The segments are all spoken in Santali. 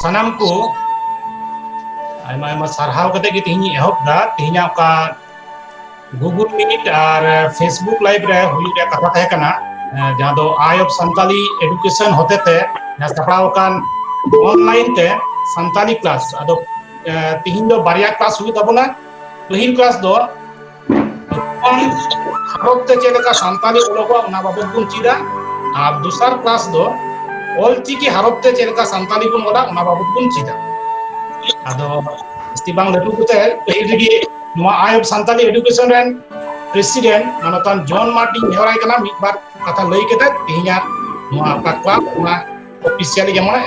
ᱥᱟᱱᱟᱢ ᱠᱚ ᱟᱭᱢᱟ ᱟᱭᱢᱟ ᱥᱟᱨᱦᱟᱣ ᱠᱟᱛᱮ ᱜᱮ ᱛᱮᱦᱮᱧ ᱮᱦᱚᱵ ᱫᱟ ᱛᱮᱦᱮᱧᱟᱜ ᱚᱠᱟ ᱜᱩᱜᱩᱞ ᱢᱤᱴ ᱟᱨ ᱯᱷᱮᱥᱵᱩᱠ ᱞᱟᱭᱤᱵ ᱨᱮ ᱦᱩᱭᱩᱜ ᱨᱮᱭᱟᱜ ᱠᱟᱛᱷᱟ ᱛᱟᱦᱮᱸ ᱠᱟᱱᱟ ᱡᱟᱦᱟᱸ ᱫᱚ ᱟᱭ ᱚᱯᱷ ᱥᱟᱱᱛᱟᱞᱤ ᱮᱰᱩᱠᱮᱥᱚᱱ ᱦᱚᱛᱮᱛᱮ ᱡᱟᱦᱟᱸ ᱥᱟᱯᱲᱟᱣ ᱟᱠᱟᱱ ᱚᱱᱞᱟᱭᱤᱱ ᱛᱮ ᱥᱟᱱᱛᱟᱞᱤ ᱠᱞᱟᱥ ᱟᱫᱚ ᱛᱮᱦᱮᱧ ᱫᱚ ᱵᱟᱨᱭᱟ ᱠᱞᱟᱥ ᱦᱩᱭᱩᱜ ᱛᱟᱵᱚᱱᱟ ᱯᱟᱹᱦᱤᱞ ᱠᱞᱟᱥ ᱫᱚ ᱡᱚᱠᱷᱚᱱ ᱟᱨᱚᱵ ᱛᱮ ᱪᱮᱫ ᱞᱮᱠᱟ ᱥᱟᱱᱛᱟᱞᱤ ᱚᱞᱚᱜᱚᱜᱼᱟ ᱚᱱᱟ ᱵᱟᱵᱚᱫ ᱵᱚᱱ ᱪᱮᱫᱟ ᱟᱨ ᱫᱚᱥᱟᱨ ᱠᱞᱟᱥ ᱫᱚ ᱚᱞ ᱪᱤᱠᱤ ᱦᱟᱨᱚᱵ ᱛᱮ ᱪᱮᱫ ᱞᱮᱠᱟ ᱥᱟᱱᱛᱟᱞᱤ ᱵᱚᱱ ᱚᱞᱟ ᱚᱱᱟ ᱵᱟᱵᱚᱫ ᱵᱚᱱ ᱪᱮᱫᱟ ᱟᱫᱚ ᱡᱟᱹᱥᱛᱤ ᱵᱟᱝ ᱞᱟᱹᱴᱩ ᱠᱟᱛᱮ ᱯᱟᱹᱦᱤᱞ ᱨᱮᱜᱮ ᱱᱚᱣᱟ ᱟᱭ ᱚᱯᱷ ᱥᱟᱱᱛᱟᱞᱤ ᱮᱰᱩᱠᱮᱥᱚᱱ ᱨᱮᱱ ᱯᱨᱮᱥᱤᱰᱮᱱᱴ ᱢᱟᱱᱚᱛᱟᱱ ᱡᱚᱱ ᱢᱟᱨᱰᱤᱧ ᱱᱮᱦᱚᱨᱟᱭ ᱠᱟᱱᱟ ᱢᱤᱫ ᱵᱟᱨ ᱠᱟᱛᱷᱟ ᱞᱟᱹᱭ ᱠᱟᱛᱮ ᱛᱮᱦᱮᱧᱟᱜ ᱱᱚᱣᱟ ᱯᱟᱠᱣᱟ ᱚᱱᱟ oficial y llamó a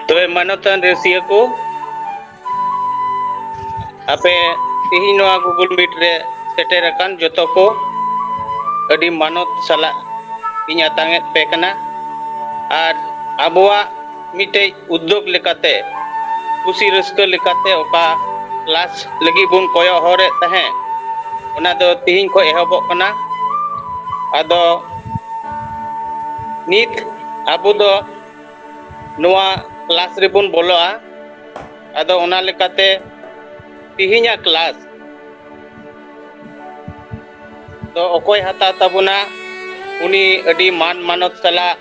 ᱛᱚᱵᱮ ᱢᱟᱱᱚᱛᱟᱱ ᱨᱮᱥᱤᱭᱟᱹ ᱠᱚ ᱟᱯᱮ ᱛᱮᱦᱮᱧ ᱱᱚᱣᱟ ᱜᱩᱜᱩᱞ ᱢᱤᱴ ᱨᱮ ᱥᱮᱴᱮᱨ ᱟᱠᱟᱱ ᱡᱚᱛᱚ ᱠᱚ ᱟᱹᱰᱤ ᱢᱟᱱᱚᱛ ᱥᱟᱞᱟᱜ ᱤᱧ ᱟᱛᱟᱝ ᱮᱫ ᱯᱮ ᱠᱟᱱᱟ ᱟᱨ ᱟᱵᱚᱣᱟᱜ ᱢᱤᱫᱴᱮᱡ ᱩᱫᱽᱫᱳᱜᱽ ᱞᱮᱠᱟᱛᱮ ᱠᱩᱥᱤ ᱨᱟᱹᱥᱠᱟᱹ ᱞᱮᱠᱟᱛᱮ ᱚᱠᱟ ᱠᱞᱟᱥ ᱞᱟᱹᱜᱤᱫ ᱵᱚᱱ ᱠᱚᱭᱚᱜ ᱦᱚᱨ ᱮᱫ ᱛᱟᱦᱮᱸᱫ ᱚᱱᱟ ᱫᱚ ᱛᱤᱦᱤᱧ ᱠᱷᱚᱱ ᱮᱦᱚᱵᱚᱜ ᱠᱟᱱᱟ ᱟᱫᱚ ᱱᱤᱛ ᱟᱵᱚ ᱫᱚ ᱱᱚᱣᱟ ᱠᱞᱟᱥ ᱨᱮᱵᱚᱱ ᱵᱚᱞᱚᱜᱼᱟ ᱟᱫᱚ ᱚᱱᱟ ᱞᱮᱠᱟᱛᱮ ᱛᱤᱦᱤᱧᱟᱜ ᱠᱞᱟᱥ ᱫᱚ ᱚᱠᱚᱭ ᱦᱟᱛᱟᱣ ᱛᱟᱵᱚᱱᱟ ᱩᱱᱤ ᱟᱹᱰᱤ ᱢᱟᱱ ᱢᱟᱱᱚᱛ ᱥᱟᱞᱟᱜ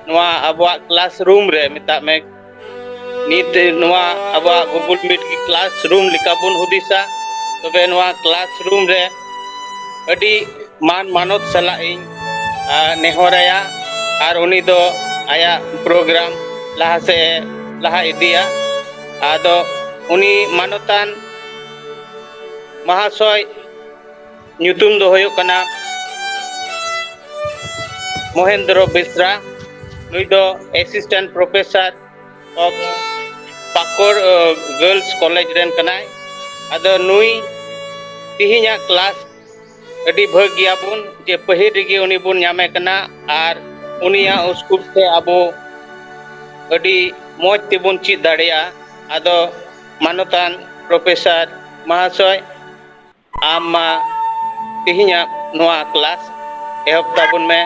ᱱᱚᱣᱟ ᱟᱵᱚᱣᱟᱜ ᱠᱞᱟᱥ ᱨᱩᱢ ᱨᱮ ᱢᱮᱛᱟᱜ ᱢᱮ ᱱᱤᱛ ᱱᱚᱣᱟ ᱟᱵᱚᱣᱟᱜ ᱜᱩᱜᱩᱞ ᱢᱤᱴ ᱜᱮ ᱠᱞᱟᱥ ᱨᱩᱢ ᱞᱮᱠᱟ ᱵᱚᱱ ᱦᱩᱫᱤᱥᱟ ᱛᱚᱵᱮ ᱱᱚᱣᱟ ᱠᱞᱟᱥ ᱨᱩᱢ ᱨᱮ ᱟᱹᱰᱤ ᱢᱟᱱ ᱢᱟᱱᱚᱛ ᱥᱟᱞᱟᱜ ᱤᱧ ᱱᱮᱦᱚᱨᱟᱭᱟ ᱟᱨ ᱩᱱᱤ ᱫᱚ ᱟᱭᱟᱜ ᱯᱨᱳᱜᱨᱟᱢ ᱞᱟᱦᱟ ᱥᱮ ᱞᱟᱦᱟ ᱤᱫᱤᱭᱟ ᱟᱫᱚ ᱩᱱᱤ ᱢᱟᱱᱚᱛᱟᱱ ᱢᱟᱦᱟᱥᱚᱭ ᱧᱩᱛᱩᱢ ᱫᱚ ᱦᱩᱭᱩᱜ ᱠᱟᱱᱟ ᱢᱚᱦᱮᱱᱫᱨᱚ ᱵᱮᱥᱨᱟ ᱱᱩᱭ ᱫᱚ assistant professor of Pakur girls college ᱨᱮᱱ ᱠᱟᱱᱟᱭ ᱟᱫᱚ ᱱᱩᱭ ᱛᱮᱦᱮᱧᱟᱜ ᱠᱞᱟᱥ ᱟᱹᱰᱤ ᱵᱷᱟᱹᱜᱽ ᱜᱮᱭᱟ ᱵᱚᱱ ᱡᱮ ᱯᱟᱹᱦᱤᱞ ᱨᱮᱜᱮ ᱩᱱᱤ ᱵᱚᱱ ᱧᱟᱢᱮ ᱠᱟᱱᱟ ᱟᱨ ᱩᱱᱤᱭᱟᱜ ᱩᱥᱠᱩᱯ ᱛᱮ ᱟᱵᱚ ᱟᱹᱰᱤ ᱢᱚᱡᱽ ᱛᱮᱵᱚᱱ ᱪᱮᱫ ᱫᱟᱲᱮᱭᱟᱜᱼᱟ ᱟᱫᱚ ᱢᱟᱱᱚᱛᱟᱱ ᱯᱨᱚᱯᱷᱮᱥᱟᱨ ᱢᱚᱦᱟᱥᱚᱭ ᱟᱢ ᱢᱟ ᱛᱮᱦᱮᱧᱟᱜ ᱱᱚᱣᱟ ᱠᱞᱟᱥ ᱮᱦᱚᱵ ᱛᱟᱵᱚᱱ ᱢᱮ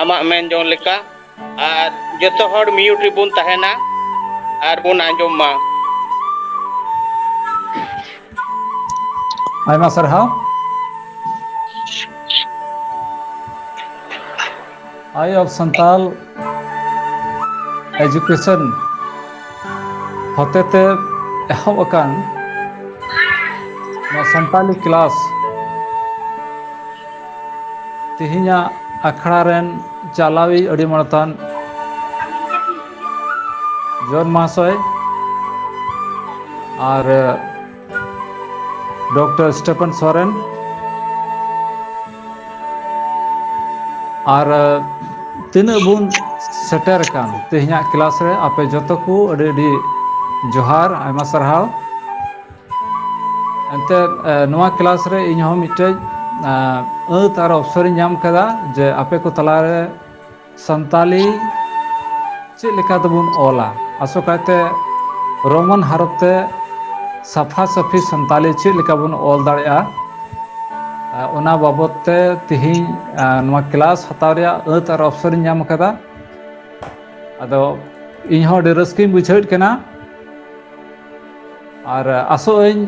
ᱟᱢᱟᱜ ᱢᱮᱱ ᱡᱚᱝ ᱞᱮᱠᱟ ᱟᱨ ᱡᱚᱛᱚ ᱦᱚᱲ ᱢᱤᱭᱩᱴ ᱨᱮᱵᱚᱱ ᱛᱟᱦᱮᱱᱟ ᱟᱨ ᱵᱚᱱ ᱟᱸᱡᱚᱢ ᱢᱟ ᱟᱭᱢᱟ ᱥᱟᱨᱦᱟᱣ ᱟᱭ ᱚᱯᱷ ᱥᱟᱱᱛᱟᱞ ᱮᱡᱩᱠᱮᱥᱚᱱ ᱦᱚᱛᱮᱛᱮ ᱮᱦᱚᱵ ᱟᱠᱟᱱ ᱱᱚᱣᱟ ᱥᱟᱱᱛᱟᱞᱤ ᱠᱞᱟᱥ ᱛᱮᱦᱮᱧᱟᱜ ᱟᱠᱷᱲᱟ ᱨᱮᱱ ᱪᱟᱞᱟᱣᱤᱡ ᱟᱹᱰᱤ ᱢᱟᱲᱛᱟᱱ ᱡᱚᱱ ᱢᱟᱦᱟᱥᱚᱭ ᱟᱨ ᱰᱚᱠᱴᱚᱨ ᱥᱴᱮᱯᱷᱟᱱ ᱥᱚᱨᱮᱱ ᱟᱨ ᱛᱤᱱᱟᱹᱜ ᱵᱚᱱ ᱥᱮᱴᱮᱨ ᱟᱠᱟᱱ ᱛᱮᱦᱮᱧᱟᱜ ᱠᱞᱟᱥ ᱨᱮ ᱟᱯᱮ ᱡᱚᱛᱚ ᱠᱚ ᱟᱹᱰᱤ ᱟᱹᱰᱤ ᱡᱚᱦᱟᱨ ᱟᱭᱢᱟ ᱥᱟᱨᱦᱟᱣ ᱮᱱᱛᱮ ᱱᱚᱣᱟ ᱠᱞᱟᱥ ᱨᱮ ᱤᱧ ᱦᱚᱸ ᱢᱤᱫᱴᱮᱡ ᱟᱹᱛ ᱟᱨ ᱚᱯᱥᱚᱨᱤᱧ ᱧᱟᱢ ᱠᱮᱫᱟ ᱡᱮ ᱟᱯᱮ ᱠᱚ ᱛᱟᱞᱟᱨᱮ ᱥᱟᱱᱛᱟᱞᱤ ᱪᱮᱫ ᱞᱮᱠᱟ ᱛᱮᱵᱚᱱ ᱚᱞᱟ ᱟᱥᱚᱠᱟᱭᱛᱮ ᱨᱳᱢᱟᱱ ᱦᱟᱨᱚᱯ ᱛᱮ ᱥᱟᱯᱷᱟ ᱥᱟᱹᱯᱷᱤ ᱥᱟᱱᱛᱟᱞᱤ ᱪᱮᱫ ᱞᱮᱠᱟ ᱵᱚᱱ ᱚᱞ ᱫᱟᱲᱮᱭᱟᱜᱼᱟ ᱚᱱᱟ ᱵᱟᱵᱚᱛ ᱛᱮ ᱛᱮᱦᱮᱧ ᱱᱚᱣᱟ ᱠᱞᱟᱥ ᱦᱟᱛᱟᱣ ᱨᱮᱭᱟᱜ ᱟᱹᱛ ᱟᱨ ᱚᱯᱥᱚᱨ ᱤᱧ ᱧᱟᱢ ᱟᱠᱟᱫᱟ ᱟᱫᱚ ᱤᱧ ᱦᱚᱸ ᱟᱹᱰᱤ ᱨᱟᱹᱥᱠᱟᱹᱧ ᱵᱩᱡᱷᱟᱹᱣᱮᱫ ᱠᱟᱱᱟ ᱟᱨ ᱟᱥᱚᱜ ᱟᱹᱧ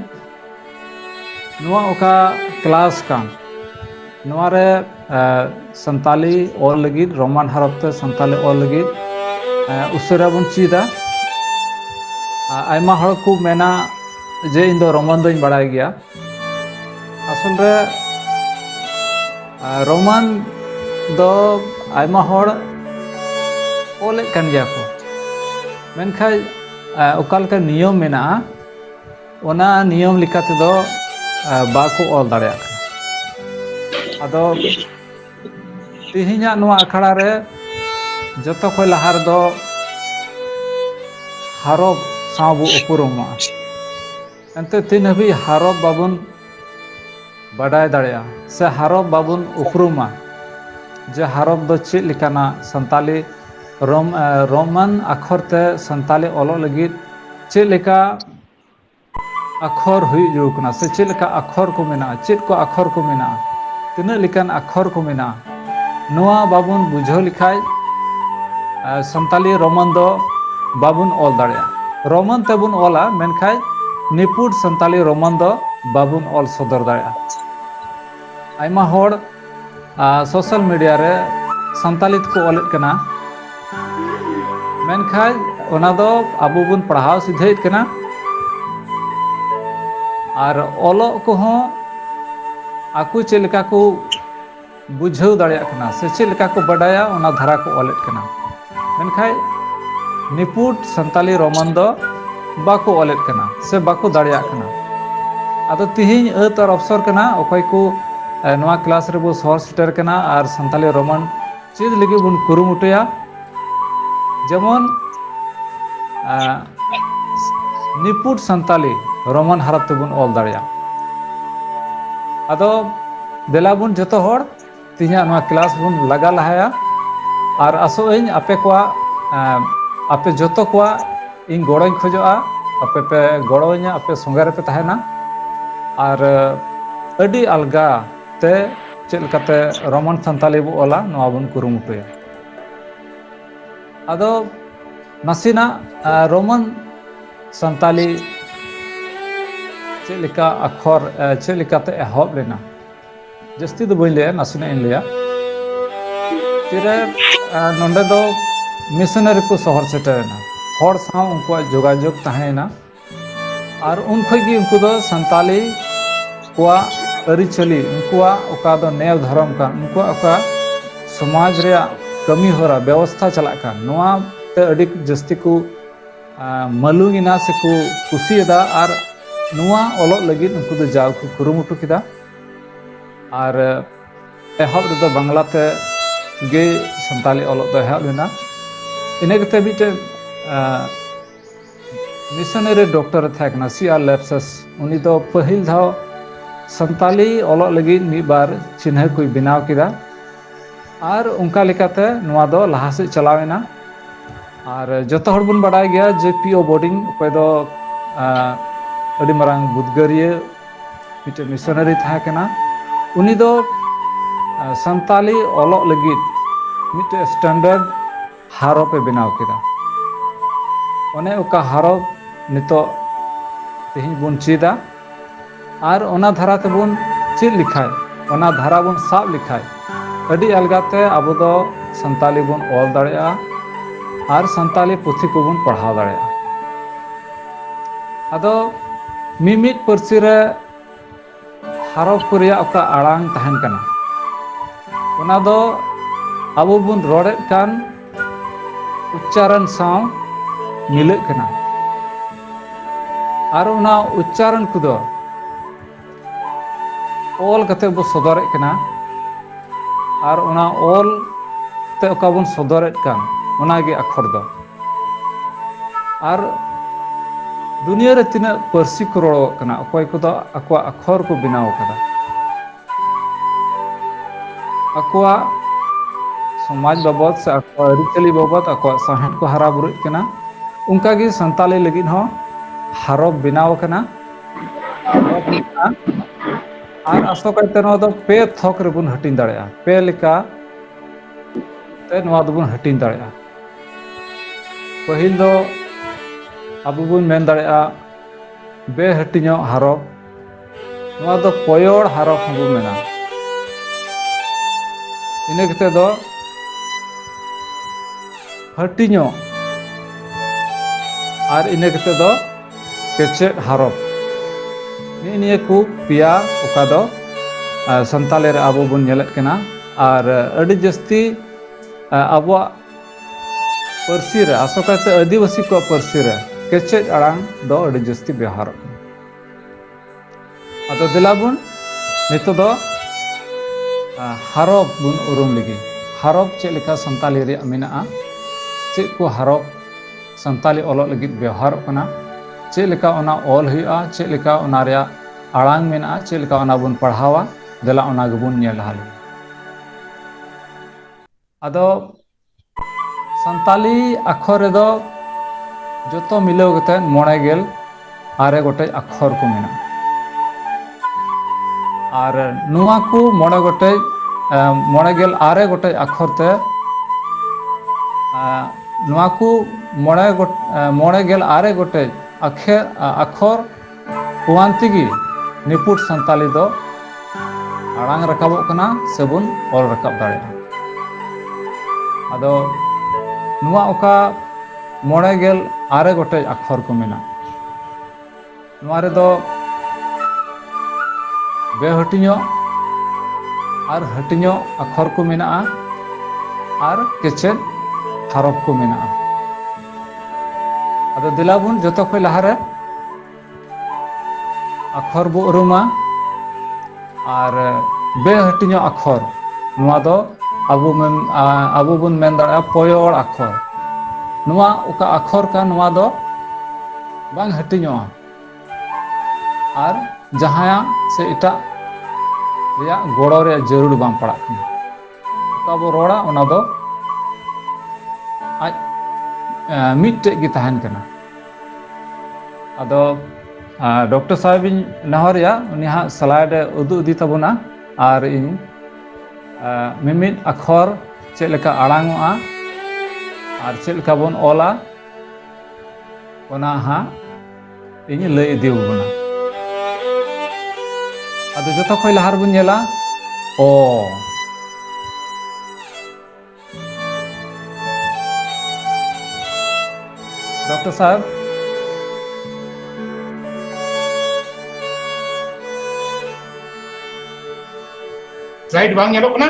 ᱱᱚᱣᱟ ᱚᱠᱟ ᱠᱞᱟᱥ ᱠᱟᱱ ᱱᱚᱣᱟ ᱨᱮ ᱥᱟᱱᱛᱟᱞᱤ ᱚᱞ ᱞᱟᱹᱜᱤᱫ ᱨᱳᱢᱟᱱ ᱦᱚᱨᱚᱯ ᱛᱮ ᱥᱟᱱᱛᱟᱞᱤ ᱚᱞ ᱞᱟᱹᱜᱤᱫ ᱩᱥᱟᱹᱨᱟ ᱵᱚᱱ ᱪᱮᱫᱟ ᱟᱭᱢᱟ ᱦᱚᱲ ᱠᱚ ᱢᱮᱱᱟ ᱡᱮ ᱤᱧ ᱫᱚ ᱨᱳᱢᱟᱱ ᱫᱚᱧ ᱵᱟᱲᱟᱭ ᱜᱮᱭᱟ ᱟᱥᱚᱞ ᱨᱮ ᱨᱳᱢᱟᱱ ᱫᱚ ᱟᱭᱢᱟ ᱦᱚᱲ ᱚᱞᱮᱫ ᱠᱟᱱ ᱜᱮᱭᱟ ᱠᱚ ᱢᱮᱱᱠᱷᱟᱱ ᱚᱠᱟ ᱞᱮᱠᱟ ᱱᱤᱭᱚᱢ ᱢᱮᱱᱟᱜᱼᱟ ᱚᱱᱟ ᱱᱤᱭᱚᱢ ᱞᱮᱠᱟ ᱛᱮᱫᱚ ᱵᱟᱠᱚ ᱚᱞ ᱫᱟᱲᱮᱭᱟᱜ ᱠᱟᱱᱟ ᱟᱫᱚ ᱛᱮᱦᱮᱧᱟᱜ ᱱᱚᱣᱟ ᱟᱠᱷᱲᱟ ᱨᱮ ᱡᱚᱛᱚ ᱠᱷᱚᱱ ᱞᱟᱦᱟ ᱨᱮᱫᱚ ᱦᱟᱨᱚᱵ ᱥᱟᱶ ᱵᱚ ᱩᱯᱨᱩᱢᱚᱜᱼᱟ ᱮᱱᱛᱮ ᱛᱤᱱ ᱦᱟᱹᱵᱤᱡ ᱦᱟᱨᱚᱵ ᱵᱟᱵᱚᱱ ᱵᱟᱰᱟᱭ ᱫᱟᱲᱮᱭᱟᱜᱼᱟ ᱥᱮ ᱦᱟᱨᱚᱵ ᱵᱟᱵᱚᱱ ᱩᱯᱨᱩᱢᱟ ᱡᱮ ᱦᱟᱨᱚᱵ ᱫᱚ ᱪᱮᱫ ᱞᱮᱠᱟᱱᱟ ᱥᱟᱱᱛᱟᱞᱤ ᱨᱳᱢ ᱨᱳᱢᱟᱱ ᱟᱠᱷᱚᱨ ᱛᱮ ᱥᱟᱱᱛᱟᱞᱤ ᱚᱞᱚᱜ ᱞᱟᱹᱜᱤᱫ ᱪᱮᱫ ᱞᱮᱠᱟ ᱟᱠᱷᱚᱨ ᱦᱩᱭᱩᱜ ᱡᱟᱹᱨᱩᱲ ᱠᱟᱱᱟ ᱥᱮ ᱪᱮᱫ ᱞᱮᱠᱟ ᱟᱠᱷᱚᱨ ᱠᱚ ᱢᱮᱱᱟᱜᱼᱟ ᱪᱮᱫ ᱠᱚ ᱟᱠᱷᱚᱨ ᱠᱚ ᱢᱮᱱᱟᱜᱼᱟ ᱛᱤᱱᱟᱹᱜ ᱞᱮᱠᱟᱱ ᱟᱠᱷᱚᱨ ᱠᱚ ᱢᱮᱱᱟᱜᱼᱟ ᱱᱚᱣᱟ ᱵᱟᱵᱚᱱ ᱵᱩᱡᱷᱟᱹᱣ ᱞᱮᱠᱷᱟᱡ ᱥᱟᱱᱛᱟᱞᱤ ᱨᱳᱢᱟᱱ ᱫᱚ ᱵᱟᱵᱚᱱ ᱚᱞ ᱫᱟᱲᱮᱭᱟᱜᱼᱟ ᱨᱳᱢᱟᱱ ᱛᱮᱵᱚᱱ ᱚᱞᱟ ᱢᱮᱱᱠᱷᱟᱡ ᱱᱤᱯᱷᱩᱴ ᱥᱟᱱᱛᱟᱞᱤ ᱨᱳᱢᱟᱱ ᱫᱚ ᱵᱟᱵᱚᱱ ᱚᱞ ᱥᱚᱫᱚᱨ ᱫᱟᱲᱮᱭᱟᱜᱼᱟ ᱟᱭᱢᱟ ᱦᱚᱲ ᱟᱨ ᱥᱳᱥᱟᱞ ᱢᱤᱰᱤᱭᱟ ᱨᱮ ᱥᱟᱱᱛᱟᱞᱤ ᱛᱮᱠᱚ ᱚᱞᱮᱫ ᱠᱟᱱᱟ ᱢᱮᱱᱠᱷᱟᱱ ᱚᱱᱟ ᱫᱚ ᱟᱵᱚ ᱵᱚᱱ ᱯᱟᱲᱦᱟᱣ ᱥᱤᱫᱷᱟᱹᱭᱮᱫ ᱠᱟᱱᱟ ᱟᱨ ᱚᱞᱚᱜ ᱠᱚᱦᱚᱸ ᱟᱠᱚ ᱪᱮᱫ ᱞᱮᱠᱟ ᱠᱚ ᱵᱩᱡᱷᱟᱹᱣ ᱫᱟᱲᱮᱭᱟᱜ ᱠᱟᱱᱟ ᱥᱮ ᱪᱮᱫ ᱞᱮᱠᱟ ᱠᱚ ᱵᱟᱰᱟᱭᱟ ᱚᱱᱟ ᱫᱷᱟᱨᱟ ᱠᱚ ᱚᱞᱮᱫ ᱠᱟᱱᱟ ᱢᱮᱱᱠᱷᱟᱡ ᱱᱤᱯᱩᱴ ᱥᱟᱱᱛᱟᱞᱤ ᱨᱳᱢᱟᱱ ᱫᱚ ᱵᱟᱠᱚ ᱚᱞᱮᱫ ᱠᱟᱱᱟ ᱥᱮ ᱵᱟᱠᱚ ᱫᱟᱲᱮᱭᱟᱜ ᱠᱟᱱᱟ ᱟᱫᱚ ᱛᱤᱦᱤᱧ ᱟᱹᱛ ᱟᱨ ᱚᱯᱥᱚᱨ ᱠᱟᱱᱟ ᱚᱠᱚᱭ ᱠᱚ ᱱᱚᱣᱟ ᱠᱞᱟᱥ ᱨᱮᱵᱚ ᱥᱚᱦᱚᱨ ᱥᱮᱴᱮᱨ ᱠᱟᱱᱟ ᱟᱨ ᱥᱟᱱᱛᱟᱞᱤ ᱨᱳᱢᱟᱱ ᱪᱮᱫ ᱞᱟᱹᱜᱤᱫ ᱵᱚᱱ ᱠᱩᱨᱩᱢᱩᱴᱩᱭᱟ ᱡᱮᱢᱚᱱ ᱱᱤᱯᱩᱴ ᱥᱟᱱᱛᱟᱞᱤ ᱨᱳᱢᱟᱱ ᱦᱟᱨᱟᱯ ᱛᱮᱵᱚᱱ ᱚᱞ ᱫᱟᱲᱮᱭᱟᱜᱼᱟ ᱟᱫᱚ ᱫᱮᱞᱟ ᱵᱚᱱ ᱡᱚᱛᱚ ᱦᱚᱲ ᱛᱮᱦᱮᱧᱟᱜ ᱱᱚᱣᱟ ᱠᱮᱞᱟᱥ ᱵᱚᱱ ᱞᱟᱜᱟ ᱞᱟᱦᱟᱭᱟ ᱟᱨ ᱟᱥᱚᱜ ᱟᱹᱧ ᱟᱯᱮ ᱠᱚᱣᱟᱜ ᱮᱸ, ᱟᱯᱮ ᱡᱚᱛᱚ ᱠᱚᱣᱟᱜ ᱤᱧ ᱜᱚᱲᱚᱧ ᱠᱷᱚᱡᱚᱜᱼᱟ ᱟᱯᱮ ᱯᱮ ᱜᱚᱲᱚ ᱟᱹᱧᱟ ᱟᱯᱮ ᱥᱚᱸᱜᱮ ᱨᱮᱯᱮ ᱛᱟᱦᱮᱱᱟ ᱟᱨ ᱟᱹᱰᱤ ᱟᱞᱜᱟ ᱛᱮ ᱪᱮᱫ ᱞᱮᱠᱟᱛᱮ ᱨᱚᱢᱚᱱ ᱥᱟᱱᱛᱟᱞᱤ ᱵᱚ ᱚᱞᱟ ᱱᱚᱣᱟ ᱵᱚᱱ ᱠᱩᱨᱩᱢᱩᱴᱩᱭᱟ ᱟᱫᱚ ᱱᱟᱥᱮᱱᱟᱜ ᱮᱸ, ᱨᱳᱢᱟᱱ ᱥᱟᱱᱛᱟᱞᱤ ᱪᱮᱫ ᱞᱮᱠᱟ ᱟᱠᱷᱚᱨ ᱮᱸ, ᱪᱮᱫ ᱞᱮᱠᱟᱛᱮ ᱮᱦᱚᱵ ᱞᱮᱱᱟ ᱡᱟᱹᱥᱛᱤ ᱫᱚ ᱵᱟᱹᱧ ᱞᱟᱹᱭᱟ ᱱᱟᱥᱮᱱᱟᱜ ᱤᱧ ᱞᱟᱹᱭᱟ ᱛᱤᱨᱮ ᱱᱚᱰᱮ ᱫᱚ ᱢᱤᱥᱚᱱᱟᱨᱤ ᱠᱚ ᱥᱚᱦᱚᱨ ᱥᱮᱴᱮᱨᱮᱱᱟ ᱦᱚᱲ ᱥᱟᱶ ᱩᱱᱠᱩᱣᱟᱜ ᱡᱳᱜᱟᱡᱳᱜᱽ ᱛᱟᱦᱮᱸᱭᱮᱱᱟ ᱟᱨ ᱩᱱ ᱠᱷᱚᱱ ᱜᱮ ᱩᱱᱠᱩ ᱫᱚ ᱥᱟᱱᱛᱟᱞᱤ ᱠᱚᱣᱟᱜ ᱟᱹᱨᱤᱪᱟᱹᱞᱤ ᱩᱱᱠᱩᱣᱟᱜ ᱚᱠᱟ ᱫᱚ ᱱᱮᱣ ᱫᱷᱚᱨᱚᱢ ᱠᱟᱱ ᱩᱱᱠᱩᱣᱟᱜ ᱚᱠᱟ ᱥᱚᱢᱟᱡᱽ ᱨᱮᱭᱟᱜ ᱠᱟᱹᱢᱤ ᱦᱚᱨᱟ ᱵᱮᱵᱚᱥᱛᱷᱟ ᱪᱟᱞᱟᱜ ᱠᱟᱱ ᱱᱚᱣᱟ ᱛᱮ ᱟᱹᱰᱤ ᱡᱟᱹᱥᱛᱤ ᱠᱚ ᱢᱟᱹᱞᱩ ᱜᱮ ᱱᱟᱥᱮ ᱠᱚ ᱠᱩᱥᱤᱭᱟᱫᱟ ᱟᱨ ᱱᱚᱣᱟ ᱚᱞᱚᱜ ᱞᱟᱹᱜᱤᱫ ᱩᱱᱠᱩ ᱫᱚ ᱡᱟᱣ ᱠᱚ ᱠᱩᱨᱩᱢᱩᱴᱩ ᱠᱮᱫᱟ ᱟᱨ ᱮᱦᱚᱵ ᱨᱮᱫᱚ ᱵᱟᱝᱞᱟ ᱛᱮ ᱜᱮ ᱥᱟᱱᱛᱟᱲᱤ ᱚᱞᱚᱜ ᱫᱚ ᱮᱦᱚᱵ ᱞᱮᱱᱟ ᱤᱱᱟᱹ ᱠᱟᱛᱮ ᱢᱤᱫᱴᱮᱱ ᱢᱤᱥᱚᱱᱟᱨᱤ ᱰᱚᱠᱴᱚᱨ ᱮ ᱛᱟᱦᱮᱸ ᱠᱟᱱᱟ ᱥᱤ ᱟᱨ ᱞᱮᱯᱥᱟᱥ ᱩᱱᱤ ᱫᱚ ᱯᱟᱹᱦᱤᱞ ᱫᱷᱟᱣ ᱥᱟᱱᱛᱟᱲᱤ ᱚᱞᱚᱜ ᱞᱟᱹᱜᱤᱫ ᱢᱤᱫ ᱵᱟᱨ ᱪᱤᱱᱦᱟᱹ ᱠᱚᱭ ᱵᱮᱱᱟᱣ ᱠᱮᱫᱟ ᱟᱨ ᱚᱱᱠᱟ ᱞᱮᱠᱟᱛᱮ ᱱᱚᱣᱟ ᱫᱚ ᱞᱟᱦᱟ ᱥᱮᱫ ᱪᱟᱞᱟᱣ ᱮᱱᱟ ᱟᱨ ᱡᱚᱛᱚ ᱦᱚᱲ ᱵᱚᱱ ᱵᱟᱰᱟᱭ ᱜᱮᱭᱟ ᱡᱮ ᱯᱤ ᱳ ᱵᱳᱰᱤᱝ ᱚᱠᱚᱭ ᱫᱚ ᱟᱹᱰᱤ ᱢᱟᱨᱟᱝ ᱩᱫᱽᱜᱟᱹᱨᱤᱭᱟᱹ ᱢᱤᱫᱴᱮᱱ ᱢᱤᱥᱚᱱᱟᱨᱤ ᱛᱟᱦᱮᱸ ᱠᱟᱱᱟ ᱩᱱᱤ ᱫᱚ ᱥᱟᱱᱛᱟᱞᱤ ᱚᱞᱚᱜ ᱞᱟᱹᱜᱤᱫ ᱢᱤᱫᱴᱮᱡ ᱥᱴᱮᱱᱰᱟᱨᱰ ᱦᱟᱨᱚᱯ ᱮ ᱵᱮᱱᱟᱣ ᱠᱮᱫᱟ ᱚᱱᱮ ᱚᱠᱟ ᱦᱟᱨᱚᱯ ᱱᱤᱛᱚᱜ ᱛᱮᱦᱮᱧ ᱵᱚᱱ ᱪᱮᱫᱟ ᱟᱨ ᱚᱱᱟ ᱫᱷᱟᱨᱟ ᱛᱮᱵᱚᱱ ᱪᱮᱫ ᱞᱮᱠᱷᱟᱡ ᱚᱱᱟ ᱫᱷᱟᱨᱟ ᱵᱚᱱ ᱥᱟᱵ ᱞᱮᱠᱷᱟᱡ ᱟᱹᱰᱤ ᱟᱞᱜᱟ ᱛᱮ ᱟᱵᱚ ᱫᱚ ᱥᱟᱱᱛᱟᱞᱤ ᱵᱚᱱ ᱚᱞ ᱫᱟᱲᱮᱭᱟᱜᱼᱟ ᱟᱨ ᱥᱟᱱᱛᱟᱞᱤ ᱯᱩᱛᱷᱤ ᱠᱚᱵᱚᱱ ᱯᱟᱲᱦᱟᱣ ᱫᱟᱲᱮᱭᱟᱜᱼᱟ ᱟᱫᱚ ᱢᱤᱢᱤᱫ ᱯᱟᱹᱨᱥᱤ ᱨᱮ ᱦᱟᱨᱚᱯ ᱠᱚ ᱨᱮᱭᱟᱜ ᱚᱠᱟ ᱟᱲᱟᱝ ᱛᱟᱦᱮᱱ ᱠᱟᱱᱟ ᱚᱱᱟ ᱫᱚ ᱟᱵᱚ ᱵᱚᱱ ᱨᱚᱲᱮᱫ ᱠᱟᱱ ᱩᱪᱪᱟᱨᱚᱱ ᱥᱟᱶ ᱢᱤᱞᱟᱹᱜ ᱠᱟᱱᱟ ᱟᱨ ᱚᱱᱟ ᱩᱪᱪᱟᱨᱚᱱ ᱠᱚᱫᱚ ᱚᱞ ᱠᱟᱛᱮ ᱵᱚ ᱥᱚᱫᱚᱨᱮᱫ ᱠᱟᱱᱟ ᱟᱨ ᱚᱱᱟ ᱚᱞ ᱛᱮ ᱚᱠᱟ ᱵᱚᱱ ᱥᱚᱫᱚᱨᱮᱫ ᱠᱟᱱ ᱚᱱᱟᱜᱮ ᱟᱠᱷᱚᱨ ᱫᱚ ᱟᱨ ᱫᱩᱱᱭᱟᱹ ᱨᱮ ᱛᱤᱱᱟᱹᱜ ᱯᱟᱹᱨᱥᱤ ᱠᱚ ᱨᱚᱲᱚᱜ ᱠᱟᱱᱟ ᱚᱠᱚᱭ ᱠᱚᱫᱚ ᱟᱠᱚᱣᱟᱜ ᱟᱠᱷᱚᱨ ᱠᱚ ᱵᱮᱱᱟᱣ ᱠᱟᱫᱟ ᱟᱠᱚᱣᱟᱜ ᱥᱚᱢᱟᱡᱽ ᱵᱟᱵᱚᱫ ᱥᱮ ᱟᱠᱚᱣᱟᱜ ᱟᱹᱨᱤᱪᱟᱹᱞᱤ ᱵᱟᱵᱚᱫ ᱟᱠᱚᱣᱟᱜ ᱥᱟᱶᱦᱮᱫ ᱠᱚ ᱦᱟᱨᱟ ᱵᱩᱨᱩᱜ ᱠᱟᱱᱟ ᱚᱱᱠᱟᱜᱮ ᱥᱟᱱᱛᱟᱞᱤ ᱞᱟᱹᱜᱤᱫ ᱦᱚᱸ ᱦᱟᱨᱚᱯ ᱵᱮᱱᱟᱣ ᱟᱠᱟᱱᱟ ᱦᱟᱨᱚᱯ ᱢᱮᱱᱟᱜᱼᱟ ᱟᱨ ᱟᱥᱚᱠᱟᱭᱛᱮ ᱱᱚᱣᱟ ᱫᱚ ᱯᱮ ᱛᱷᱚᱠ ᱨᱮᱵᱚᱱ ᱦᱟᱹᱴᱤᱧ ᱫᱟᱲᱮᱭᱟᱜᱼᱟ ᱯᱮ ᱞᱮᱠᱟ ᱛᱮ ᱱᱚᱣᱟ ᱫᱚᱵᱚᱱ ᱦᱟᱹᱴᱤᱧ ᱫᱟᱲᱮᱭᱟᱜᱼᱟ ᱯᱟᱹᱦᱤᱞ ᱫᱚ ᱟᱵᱚ ᱵᱚᱱ ᱢᱮᱱ ᱫᱟᱲᱮᱭᱟᱜᱼᱟ ᱵᱮᱦᱟᱹᱴᱤᱧᱚᱜ ᱦᱟᱨᱚᱯ ᱱᱚᱣᱟ ᱫᱚ ᱯᱚᱭᱚᱲ ᱦᱟᱨᱚᱯ ᱦᱚᱸᱵᱚ ᱢᱮᱱᱟ ᱤᱱᱟᱹ ᱠᱟᱛᱮ ᱫᱚ ᱦᱟᱹᱴᱤᱧᱚᱜ ᱟᱨ ᱤᱱᱟᱹ ᱠᱟᱛᱮ ᱫᱚ ᱠᱮᱪᱮᱫ ᱦᱟᱨᱚᱯ ᱱᱤᱜ ᱱᱤᱭᱟᱹ ᱠᱚ ᱯᱮᱭᱟ ᱚᱠᱟ ᱫᱚ ᱥᱟᱱᱛᱟᱞᱤ ᱨᱮ ᱟᱵᱚ ᱵᱚᱱ ᱧᱮᱞᱮᱫ ᱠᱟᱱᱟ ᱟᱨ ᱟᱹᱰᱤ ᱡᱟᱹᱥᱛᱤ ᱟᱵᱚᱣᱟᱜ ᱯᱟᱹᱨᱥᱤ ᱨᱮ ᱟᱥᱚᱠᱟᱭᱛᱮ ᱟᱹᱫᱤᱵᱟᱹᱥᱤ ᱠᱚᱣᱟᱜ ᱯᱟᱹᱨᱥᱤ ᱨᱮ ᱠᱮᱪᱮᱫ ᱟᱲᱟᱝ ᱫᱚ ᱟᱹᱰᱤ ᱡᱟᱹᱥᱛᱤ ᱵᱮᱣᱦᱟᱨᱚᱜ ᱠᱟᱱᱟ ᱟᱫᱚ ᱫᱮᱞᱟ ᱵᱚᱱ ᱱᱤᱛᱚᱜ ᱫᱚ ᱦᱟᱨᱚᱯ ᱵᱚᱱ ᱩᱨᱩᱢ ᱞᱮᱜᱮ ᱦᱟᱨᱚᱯ ᱪᱮᱫ ᱞᱮᱠᱟ ᱥᱟᱱᱛᱟᱞᱤ ᱨᱮᱭᱟᱜ ᱢᱮᱱᱟᱜᱼᱟ ᱪᱮᱫ ᱠᱚ ᱦᱟᱨᱚᱯ ᱥᱟᱱᱛᱟᱞᱤ ᱚᱞᱚᱜ ᱞᱟᱹᱜᱤᱫ ᱵᱮᱣᱦᱟᱨᱚᱜ ᱠᱟᱱᱟ ᱪᱮᱫ ᱞᱮᱠᱟ ᱚᱱᱟ ᱚᱞ ᱦᱩᱭᱩᱜᱼᱟ ᱪᱮᱫ ᱞᱮᱠᱟ ᱚᱱᱟ ᱨᱮᱭᱟᱜ ᱟᱲᱟᱝ ᱢᱮᱱᱟᱜᱼᱟ ᱪᱮᱫ ᱞᱮᱠᱟ ᱚᱱᱟ ᱵᱚᱱ ᱯᱟᱲᱦᱟᱣᱟ ᱫᱮᱞᱟ ᱚᱱᱟ ᱜᱮᱵᱚᱱ ᱧᱮᱞ ᱞᱟᱦᱟ ᱞᱮᱜᱮ ᱟᱫᱚ ᱥᱟᱱᱛᱟᱞᱤ ᱟᱠᱷᱚᱨ ᱨᱮᱫᱚ ᱡᱚᱛᱚ ᱢᱤᱞᱟᱹᱣ ᱠᱟᱛᱮᱫ ᱢᱚᱬᱮ ᱜᱮᱞ ᱟᱨᱮ ᱜᱚᱴᱮᱡ ᱟᱠᱷᱚᱨ ᱠᱚ ᱢᱮᱱᱟᱜᱼᱟ ᱟᱨ ᱱᱚᱣᱟ ᱠᱚ ᱢᱚᱬᱮ ᱜᱚᱴᱮᱡ ᱢᱚᱬᱮ ᱜᱮᱞ ᱟᱨᱮ ᱜᱚᱴᱮᱡ ᱟᱠᱷᱚᱨ ᱛᱮ ᱱᱚᱣᱟ ᱠᱚ ᱢᱚᱬᱮ ᱢᱚᱬᱮ ᱜᱮᱞ ᱟᱨᱮ ᱜᱚᱴᱮᱡ ᱟᱠᱷᱮ ᱟᱠᱷᱚᱨ ᱯᱩᱣᱟᱱᱛᱤ ᱜᱮ ᱱᱤᱯᱩᱴ ᱥᱟᱱᱛᱟᱞᱤ ᱫᱚ ᱟᱲᱟᱝ ᱨᱟᱠᱟᱵᱚᱜ ᱠᱟᱱᱟ ᱥᱮᱵᱚᱱ ᱚᱞ ᱨᱟᱠᱟᱵ ᱫᱟᱲᱮᱭᱟᱜᱼᱟ ᱟᱫᱚ ᱱᱚᱣᱟ ᱚᱠᱟ ᱢᱚᱬᱮ ᱜᱮᱞ ᱟᱨᱮ ᱜᱚᱴᱮᱡ ᱟᱠᱷᱚᱨ ᱠᱚ ᱢᱮᱱᱟᱜᱼᱟ ᱱᱚᱣᱟ ᱨᱮᱫᱚ ᱵᱮᱦᱟᱹᱴᱤᱧᱚᱜ ᱟᱨ ᱦᱟᱹᱴᱤᱧᱚᱜ ᱟᱠᱷᱚᱨ ᱠᱚ ᱢᱮᱱᱟᱜᱼᱟ ᱟᱨ ᱠᱮᱪᱮᱫ ᱦᱟᱨᱚᱯ ᱠᱚ ᱢᱮᱱᱟᱜᱼᱟ ᱟᱫᱚ ᱫᱮᱞᱟ ᱵᱚᱱ ᱡᱚᱛᱚ ᱠᱷᱚᱱ ᱞᱟᱦᱟᱨᱮ ᱟᱠᱷᱚᱨ ᱵᱚ ᱩᱨᱩᱢᱟ ᱟᱨ ᱵᱮᱦᱟᱹᱴᱤᱧᱚᱜ ᱟᱠᱷᱚᱨ ᱱᱚᱣᱟ ᱫᱚ ᱟᱵᱚ ᱢᱮᱱ ᱟᱵᱚ ᱵᱚᱱ ᱢᱮᱱ ᱫᱟᱲᱮᱭᱟᱜᱼᱟ ᱯᱚᱭᱚᱲ ᱟᱠᱷᱚᱨ ᱱᱚᱣᱟ ᱚᱠᱟ ᱟᱠᱷᱚᱨ ᱠᱟᱱ ᱱᱚᱣᱟ ᱫᱚ ᱵᱟᱝ ᱦᱟᱹᱴᱤᱧᱚᱜᱼᱟ ᱟᱨ ᱡᱟᱦᱟᱸᱭᱟᱜ ᱥᱮ ᱮᱴᱟᱜ ᱨᱮᱭᱟᱜ ᱜᱚᱲᱚ ᱨᱮᱭᱟᱜ ᱡᱟᱹᱨᱩᱲ ᱵᱟᱝ ᱯᱟᱲᱟᱜ ᱠᱟᱱᱟ ᱚᱠᱟ ᱵᱚ ᱨᱚᱲᱟ ᱚᱱᱟ ᱫᱚ ᱟᱡ ᱢᱤᱫᱴᱮᱡ ᱜᱮ ᱛᱟᱦᱮᱱ ᱠᱟᱱᱟ ᱟᱫᱚ ᱰᱚᱠᱴᱚᱨ ᱥᱟᱦᱮᱵ ᱤᱧ ᱱᱮᱦᱚᱨᱮᱭᱟ ᱩᱱᱤ ᱦᱟᱸᱜ ᱥᱞᱟᱭᱤᱰ ᱮ ᱩᱫᱩᱜ ᱤᱫᱤ ᱛᱟᱵᱚᱱᱟ ᱟᱨ ᱤᱧ ᱢᱤᱢᱤᱫ ᱟᱠᱷᱚᱨ ᱪᱮᱫ ᱞᱮᱠᱟ ᱟᱲᱟᱝᱚᱜᱼᱟ ᱟᱨ ᱪᱮᱫ ᱞᱮᱠᱟ ᱵᱚᱱ ᱚᱞᱟ ᱚᱱᱟ ᱦᱟᱸᱜ ᱤᱧ ᱞᱟᱹᱭ ᱤᱫᱤ ᱟᱵᱚᱱᱟ ᱟᱫᱚ ᱡᱚᱛᱚ ᱠᱷᱚᱱ ᱞᱟᱦᱟ ᱨᱮᱵᱚᱱ ᱧᱮᱞᱟ ᱚ ᱰᱚᱠᱴᱚᱨ ᱥᱟᱦᱮᱵ ᱥᱞᱟᱭᱤᱰ ᱵᱟᱝ ᱧᱮᱞᱚᱜ ᱠᱟᱱᱟ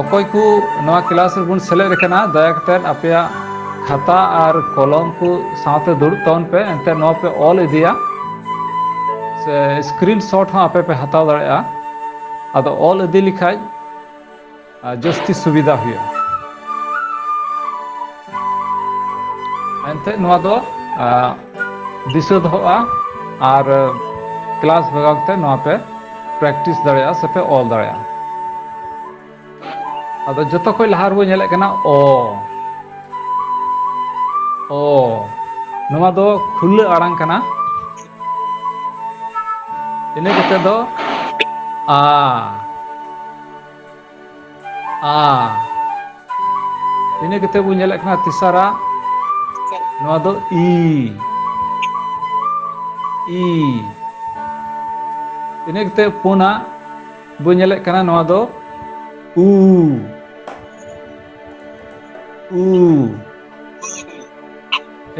ᱚᱠᱚᱭ ᱠᱚ ᱱᱚᱣᱟ ᱠᱮᱞᱟᱥ ᱨᱮᱵᱚᱱ ᱥᱮᱞᱮᱫ ᱟᱠᱟᱱᱟ ᱫᱟᱭᱟ ᱠᱟᱛᱮᱫ ᱟᱯᱮᱭᱟᱜ ᱠᱷᱟᱛᱟ ᱟᱨ ᱠᱚᱞᱚᱢ ᱠᱚ ᱥᱟᱶᱛᱮ ᱫᱩᱲᱩᱵ ᱛᱟᱵᱚᱱ ᱯᱮ ᱮᱱᱛᱮ ᱱᱚᱣᱟ ᱯᱮ ᱚᱞ ᱤᱫᱤᱭᱟ ᱥᱮ ᱥᱠᱨᱤᱱ ᱥᱚᱴ ᱦᱚᱸ ᱟᱯᱮ ᱯᱮ ᱦᱟᱛᱟᱣ ᱫᱟᱲᱮᱭᱟᱜᱼᱟ ᱟᱫᱚ ᱚᱞ ᱤᱫᱤ ᱞᱮᱠᱷᱟᱡ ᱡᱟᱹᱥᱛᱤ ᱥᱩᱵᱤᱫᱷᱟ ᱦᱩᱭᱩᱜᱼᱟ ᱮᱱᱛᱮᱫ ᱱᱚᱣᱟ ᱫᱚ ᱫᱤᱥᱟᱹ ᱫᱚᱦᱚᱜᱼᱟ ᱟᱨ ᱠᱞᱟᱥ ᱵᱷᱟᱜᱟᱣ ᱠᱟᱛᱮ ᱱᱚᱣᱟ ᱯᱮ ᱯᱨᱮᱠᱴᱤᱥ ᱫᱟᱲᱮᱭᱟᱜᱼᱟ ᱥᱮ ᱯᱮ ᱚᱞ ᱫᱟᱲᱮᱭᱟᱜᱼᱟ ᱟᱫᱚ ᱡᱚᱛᱚ ᱠᱷᱚᱱ ᱞᱟᱦᱟ ᱨᱮᱵᱚ ᱧᱮᱞᱮᱫ ᱠᱟᱱᱟ ᱚ ᱚ ᱱᱚᱣᱟ ᱫᱚ ᱠᱷᱩᱞᱟᱹ ᱟᱲᱟᱝ ᱠᱟᱱᱟ ᱤᱱᱟᱹ ᱠᱟᱛᱮ ᱫᱚ ᱟ ᱟ ᱤᱱᱟᱹ ᱠᱟᱛᱮᱫ ᱵᱚᱱ ᱧᱮᱞᱮᱫ ᱠᱟᱱᱟ ᱛᱮᱥᱟᱨᱟ ᱱᱚᱣᱟ ᱫᱚ ᱤ ᱤ ᱤᱱᱟᱹ ᱠᱟᱛᱮᱫ ᱯᱩᱱᱟᱜ ᱵᱚᱱ ᱧᱮᱞᱮᱫ ᱠᱟᱱᱟ ᱱᱚᱣᱟ ᱫᱚ ᱩ ᱩ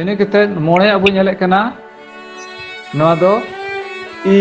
ᱤᱱᱟᱹ ᱠᱟᱛᱮᱫ ᱢᱚᱬᱮᱭᱟᱜ ᱵᱚᱱ ᱧᱮᱞᱮᱫ ᱠᱟᱱᱟ ᱱᱚᱣᱟ ᱫᱚ ᱤ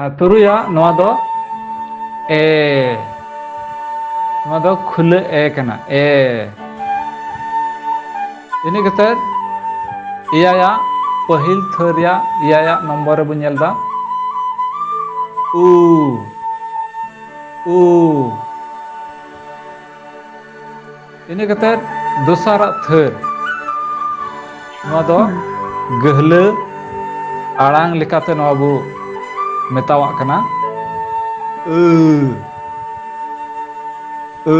ᱟᱨ ᱛᱩᱨᱩᱭᱟᱜ ᱱᱚᱣᱟ ᱫᱚ ᱮ ᱱᱚᱣᱟ ᱫᱚ ᱠᱷᱩᱞᱟᱹ ᱮ ᱠᱟᱱᱟ ᱮ ᱤᱱᱟᱹ ᱠᱟᱛᱮᱫ ᱮᱭᱟᱭᱟᱜ ᱯᱟᱹᱦᱤᱞ ᱛᱷᱟᱹ ᱨᱮᱭᱟᱜ ᱮᱭᱟᱭᱟᱜ ᱱᱚᱢᱵᱚᱨ ᱨᱮᱵᱚᱱ ᱧᱮᱞ ᱮᱫᱟ ᱩ ᱩ ᱤᱱᱟᱹ ᱠᱟᱛᱮᱫ ᱫᱚᱥᱟᱨᱟᱜ ᱛᱷᱟᱹᱨ ᱱᱚᱣᱟ ᱫᱚ ᱜᱟᱹᱦᱞᱟᱹ ᱟᱲᱟᱝ ᱞᱮᱠᱟᱛᱮ ᱱᱚᱣᱟ ᱵᱚ ᱢᱮᱛᱟᱣᱟᱜ ᱠᱟᱱᱟ ᱟᱹ ᱟᱹ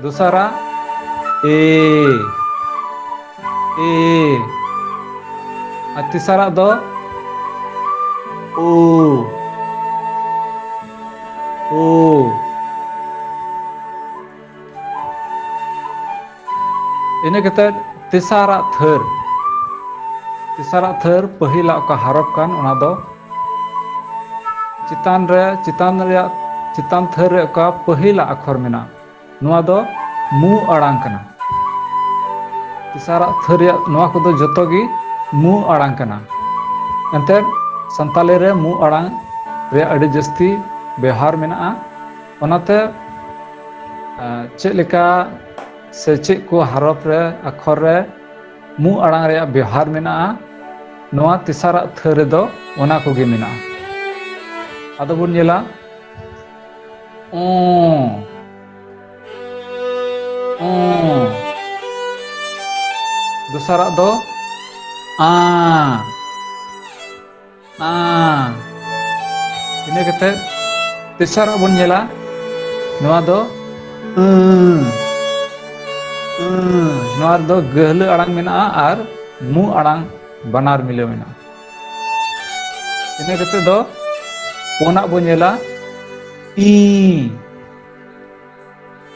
ᱫᱚᱥᱟᱨᱟᱜ ᱮ ᱮ ᱟᱨ ᱛᱮᱥᱟᱨᱟᱜ ᱫᱚ ᱳ ᱳ ᱤᱱᱟᱹ ᱠᱟᱛᱮᱫ ᱛᱮᱥᱟᱨᱟᱜ ᱛᱷᱟᱹᱨ ᱛᱮᱥᱟᱨᱟᱜ ᱛᱷᱟᱹᱨ ᱯᱟᱹᱦᱤᱞᱟᱜ ᱚᱠᱟ ᱦᱟᱨᱚᱯ ᱠᱟᱱ ᱚᱱᱟ ᱫᱚ ᱪᱮᱛᱟᱱ ᱨᱮ ᱪᱮᱛᱟᱱ ᱨᱮᱭᱟᱜ ᱪᱮᱛᱟᱱ ᱛᱷᱟᱹᱨ ᱨᱮ ᱚᱠᱟ ᱯᱟᱹᱦᱤᱞᱟᱜ ᱟᱠᱷᱚᱨ ᱢᱮᱱᱟᱜᱼᱟ ᱱᱚᱣᱟ ᱫᱚ ᱢᱩ ᱟᱲᱟᱝ ᱠᱟᱱᱟ ᱛᱮᱥᱟᱨᱟᱜ ᱛᱷᱟᱹ ᱨᱮᱭᱟᱜ ᱱᱚᱣᱟ ᱠᱚᱫᱚ ᱡᱚᱛᱚ ᱜᱮ ᱢᱩ ᱟᱲᱟᱝ ᱠᱟᱱᱟ ᱮᱱᱛᱮ ᱥᱟᱱᱛᱟᱞᱤ ᱨᱮ ᱢᱩ ᱟᱲᱟᱝ ᱨᱮᱭᱟᱜ ᱟᱹᱰᱤ ᱡᱟᱹᱥᱛᱤ ᱵᱮᱣᱦᱟᱨ ᱢᱮᱱᱟᱜᱼᱟ ᱚᱱᱟᱛᱮ ᱪᱮᱫ ᱞᱮᱠᱟ ᱥᱮ ᱪᱮᱫ ᱠᱚ ᱦᱟᱨᱚᱯ ᱨᱮ ᱟᱠᱷᱚᱨ ᱨᱮ ᱢᱩ ᱟᱲᱟᱝ ᱨᱮᱭᱟᱜ ᱵᱮᱣᱦᱟᱨ ᱢᱮᱱᱟᱜᱼᱟ ᱱᱚᱣᱟ ᱛᱮᱥᱟᱨᱟᱜ ᱛᱷᱟᱹ ᱨᱮᱫᱚ ᱚᱱᱟ ᱠᱚᱜᱮ ᱢᱮᱱᱟᱜᱼᱟ ᱟᱫᱚ ᱵᱚᱱ ᱧᱮᱞᱟ ᱚᱸ ᱚᱸ ᱫᱚᱥᱟᱨᱟᱜ ᱫᱚ ᱟᱸ ᱟᱸ ᱤᱱᱟᱹ ᱠᱟᱛᱮ ᱛᱮᱥᱟᱨᱟᱜ ᱵᱚᱱ ᱧᱮᱞᱟ ᱱᱚᱣᱟ ᱫᱚ ᱟᱹᱸ ᱟᱹᱸ ᱱᱚᱣᱟ ᱨᱮᱫᱚ ᱜᱟᱹᱦᱞᱟᱹ ᱟᱲᱟᱝ ᱢᱮᱱᱟᱜᱼᱟ ᱟᱨ ᱢᱩ ᱟᱲᱟᱝ ᱵᱟᱱᱟᱨ ᱢᱤᱞᱟᱹᱣ ᱢᱮᱱᱟᱜᱼᱟ ᱤᱱᱟᱹ ᱠᱟᱛᱮ ᱫᱚ ᱯᱩᱱᱟᱜ ᱵᱚ ᱧᱮᱞᱟ ᱤ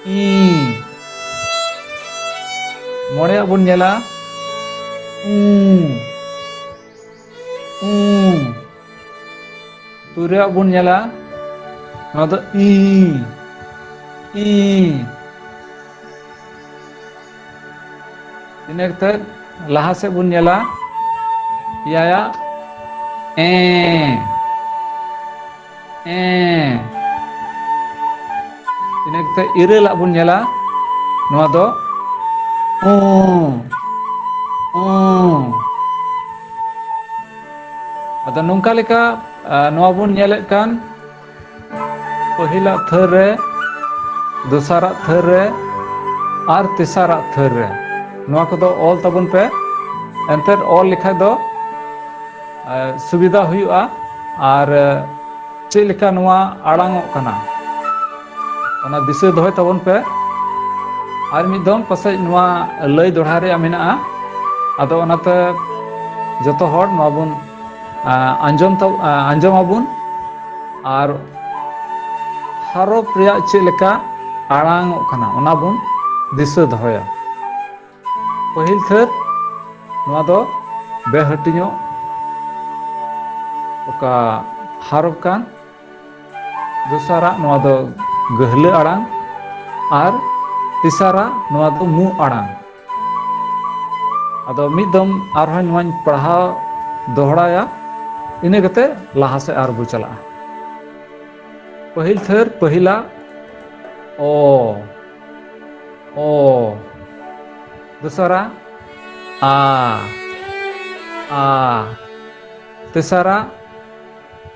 ᱤ ᱢᱚᱬᱮᱭᱟᱜ ᱵᱚᱱ ᱧᱮᱞᱟ ᱩ ᱩ ᱛᱩᱨᱩᱭᱟᱜ ᱵᱚᱱ ᱧᱮᱞᱟ ᱱᱚᱣᱟ ᱫᱚ ᱤ ᱤ ᱤᱱᱟᱹ ᱠᱟᱛᱮᱫ ᱞᱟᱦᱟ ᱥᱮᱫ ᱵᱚᱱ ᱧᱮᱞᱟ ᱮᱭᱟᱭᱟᱜ ᱮ ᱮ ᱤᱱᱟᱹ ᱠᱟᱛᱮᱫ ᱤᱨᱟᱹᱞᱟᱜ ᱵᱚᱱ ᱧᱮᱞᱟ ᱱᱚᱣᱟ ᱫᱚ ᱩ ᱩ ᱟᱫᱚ ᱱᱚᱝᱠᱟ ᱞᱮᱠᱟ ᱱᱚᱣᱟ ᱵᱚᱱ ᱧᱮᱞᱮᱫ ᱠᱟᱱ ᱯᱟᱹᱦᱤᱞᱟᱜ ᱛᱷᱟᱹᱨ ᱨᱮ ᱫᱚᱥᱟᱨᱟᱜ ᱛᱷᱟᱹᱨ ᱨᱮ ᱟᱨ ᱛᱮᱥᱟᱨᱟᱜ ᱛᱷᱟᱹᱨ ᱨᱮ ᱱᱚᱣᱟ ᱠᱚᱫᱚ ᱚᱞ ᱛᱟᱵᱚᱱ ᱯᱮ ᱮᱱᱛᱮᱫ ᱚᱞ ᱞᱮᱠᱷᱟᱡ ᱫᱚ ᱥᱩᱵᱤᱫᱷᱟ ᱦᱩᱭᱩᱜᱼᱟ ᱟᱨ ᱪᱮᱫ ᱞᱮᱠᱟ ᱱᱚᱣᱟ ᱟᱲᱟᱝᱚᱜ ᱠᱟᱱᱟ ᱚᱱᱟ ᱫᱤᱥᱟᱹ ᱫᱚᱦᱚᱭ ᱛᱟᱵᱚᱱ ᱯᱮ ᱟᱨ ᱢᱤᱫ ᱫᱚᱢ ᱯᱟᱥᱮᱡ ᱱᱚᱣᱟ ᱞᱟᱹᱭ ᱫᱚᱲᱦᱟ ᱨᱮᱭᱟᱜ ᱢᱮᱱᱟᱜᱼᱟ ᱟᱫᱚ ᱚᱱᱟᱛᱮ ᱡᱚᱛᱚ ᱦᱚᱲ ᱱᱚᱣᱟ ᱵᱚᱱ ᱟᱸᱡᱚᱢ ᱟᱸᱡᱚᱢ ᱟᱵᱚᱱ ᱟᱨ ᱦᱟᱨᱚᱯ ᱨᱮᱭᱟᱜ ᱪᱮᱫ ᱞᱮᱠᱟ ᱟᱲᱟᱝ ᱚᱜ ᱠᱟᱱᱟ ᱚᱱᱟ ᱵᱚᱱ ᱫᱤᱥᱟᱹ ᱫᱚᱦᱚᱭᱟ ᱯᱟᱹᱦᱤᱞ ᱛᱷᱟᱹᱨ ᱱᱚᱣᱟ ᱫᱚ ᱵᱮᱦᱟᱹᱴᱤᱧᱚᱜ ᱚᱠᱟ ᱦᱟᱨᱚᱯ ᱠᱟᱱ ᱫᱚᱥᱟᱨᱟᱜ ᱱᱚᱣᱟ ᱫᱚ ᱜᱟᱹᱦᱞᱟᱹ ᱟᱲᱟᱝ ᱟᱨ ᱛᱮᱥᱟᱨᱟᱜ ᱱᱚᱣᱟ ᱫᱚ ᱢᱩ ᱟᱲᱟᱝ ᱟᱫᱚ ᱢᱤᱫ ᱫᱚᱢ ᱟᱨᱦᱚᱸ ᱱᱚᱣᱟᱧ ᱯᱟᱲᱦᱟᱣ ᱫᱚᱦᱲᱟᱭᱟ ᱤᱱᱟᱹ ᱠᱟᱛᱮ ᱞᱟᱦᱟ ᱥᱮᱫ ᱟᱨ ᱵᱚ ᱪᱟᱞᱟᱜᱼᱟ ᱯᱟᱹᱦᱤᱞ ᱛᱷᱟᱹᱨ ᱯᱟᱹᱦᱤᱞᱟ ᱚ ᱚ ᱫᱚᱥᱟᱨᱟ ᱟ ᱟ ᱛᱮᱥᱟᱨᱟ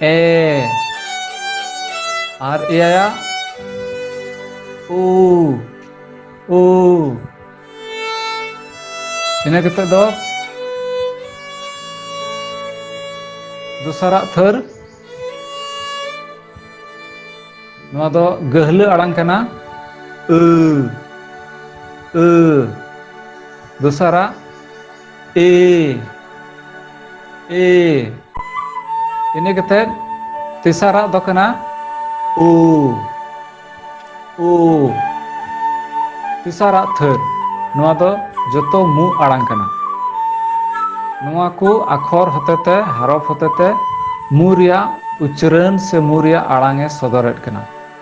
ᱮ ᱟᱨ ᱮᱭᱟᱭᱟ ᱩ ᱩ ᱤᱱᱟᱹ ᱠᱟᱛᱮ ᱫᱚ ᱫᱚᱥᱟᱨᱟᱜ ᱛᱷᱟᱹᱨ ᱱᱚᱣᱟ ᱫᱚ ᱜᱟᱹᱦᱞᱟᱹ ᱟᱲᱟᱝ ᱠᱟᱱᱟ ᱟᱹ ᱟᱹ ᱫᱚᱥᱟᱨᱟᱜ ᱮ ᱮ ᱤᱱᱟᱹ ᱠᱟᱛᱮᱫ ᱛᱮᱥᱟᱨᱟᱜ ᱫᱚ ᱠᱟᱱᱟ ᱩ ᱩ ᱛᱮᱥᱟᱨᱟᱜ ᱛᱷᱟᱹᱨ ᱱᱚᱣᱟ ᱫᱚ ᱡᱚᱛᱚ ᱢᱩ ᱟᱲᱟᱝ ᱠᱟᱱᱟ ᱱᱚᱣᱟ ᱠᱚ ᱟᱠᱷᱚᱨ ᱦᱚᱛᱮᱛᱮ ᱦᱟᱨᱚᱯ ᱦᱚᱛᱮᱛᱮ ᱢᱩ ᱨᱮᱭᱟᱜ ᱩᱪᱨᱟᱹᱱ ᱥᱮ ᱢᱩ ᱨᱮᱭᱟᱜ ᱟᱲᱟᱝ ᱮ ᱥᱚᱫᱚᱨᱮᱫ ᱠᱟᱱᱟ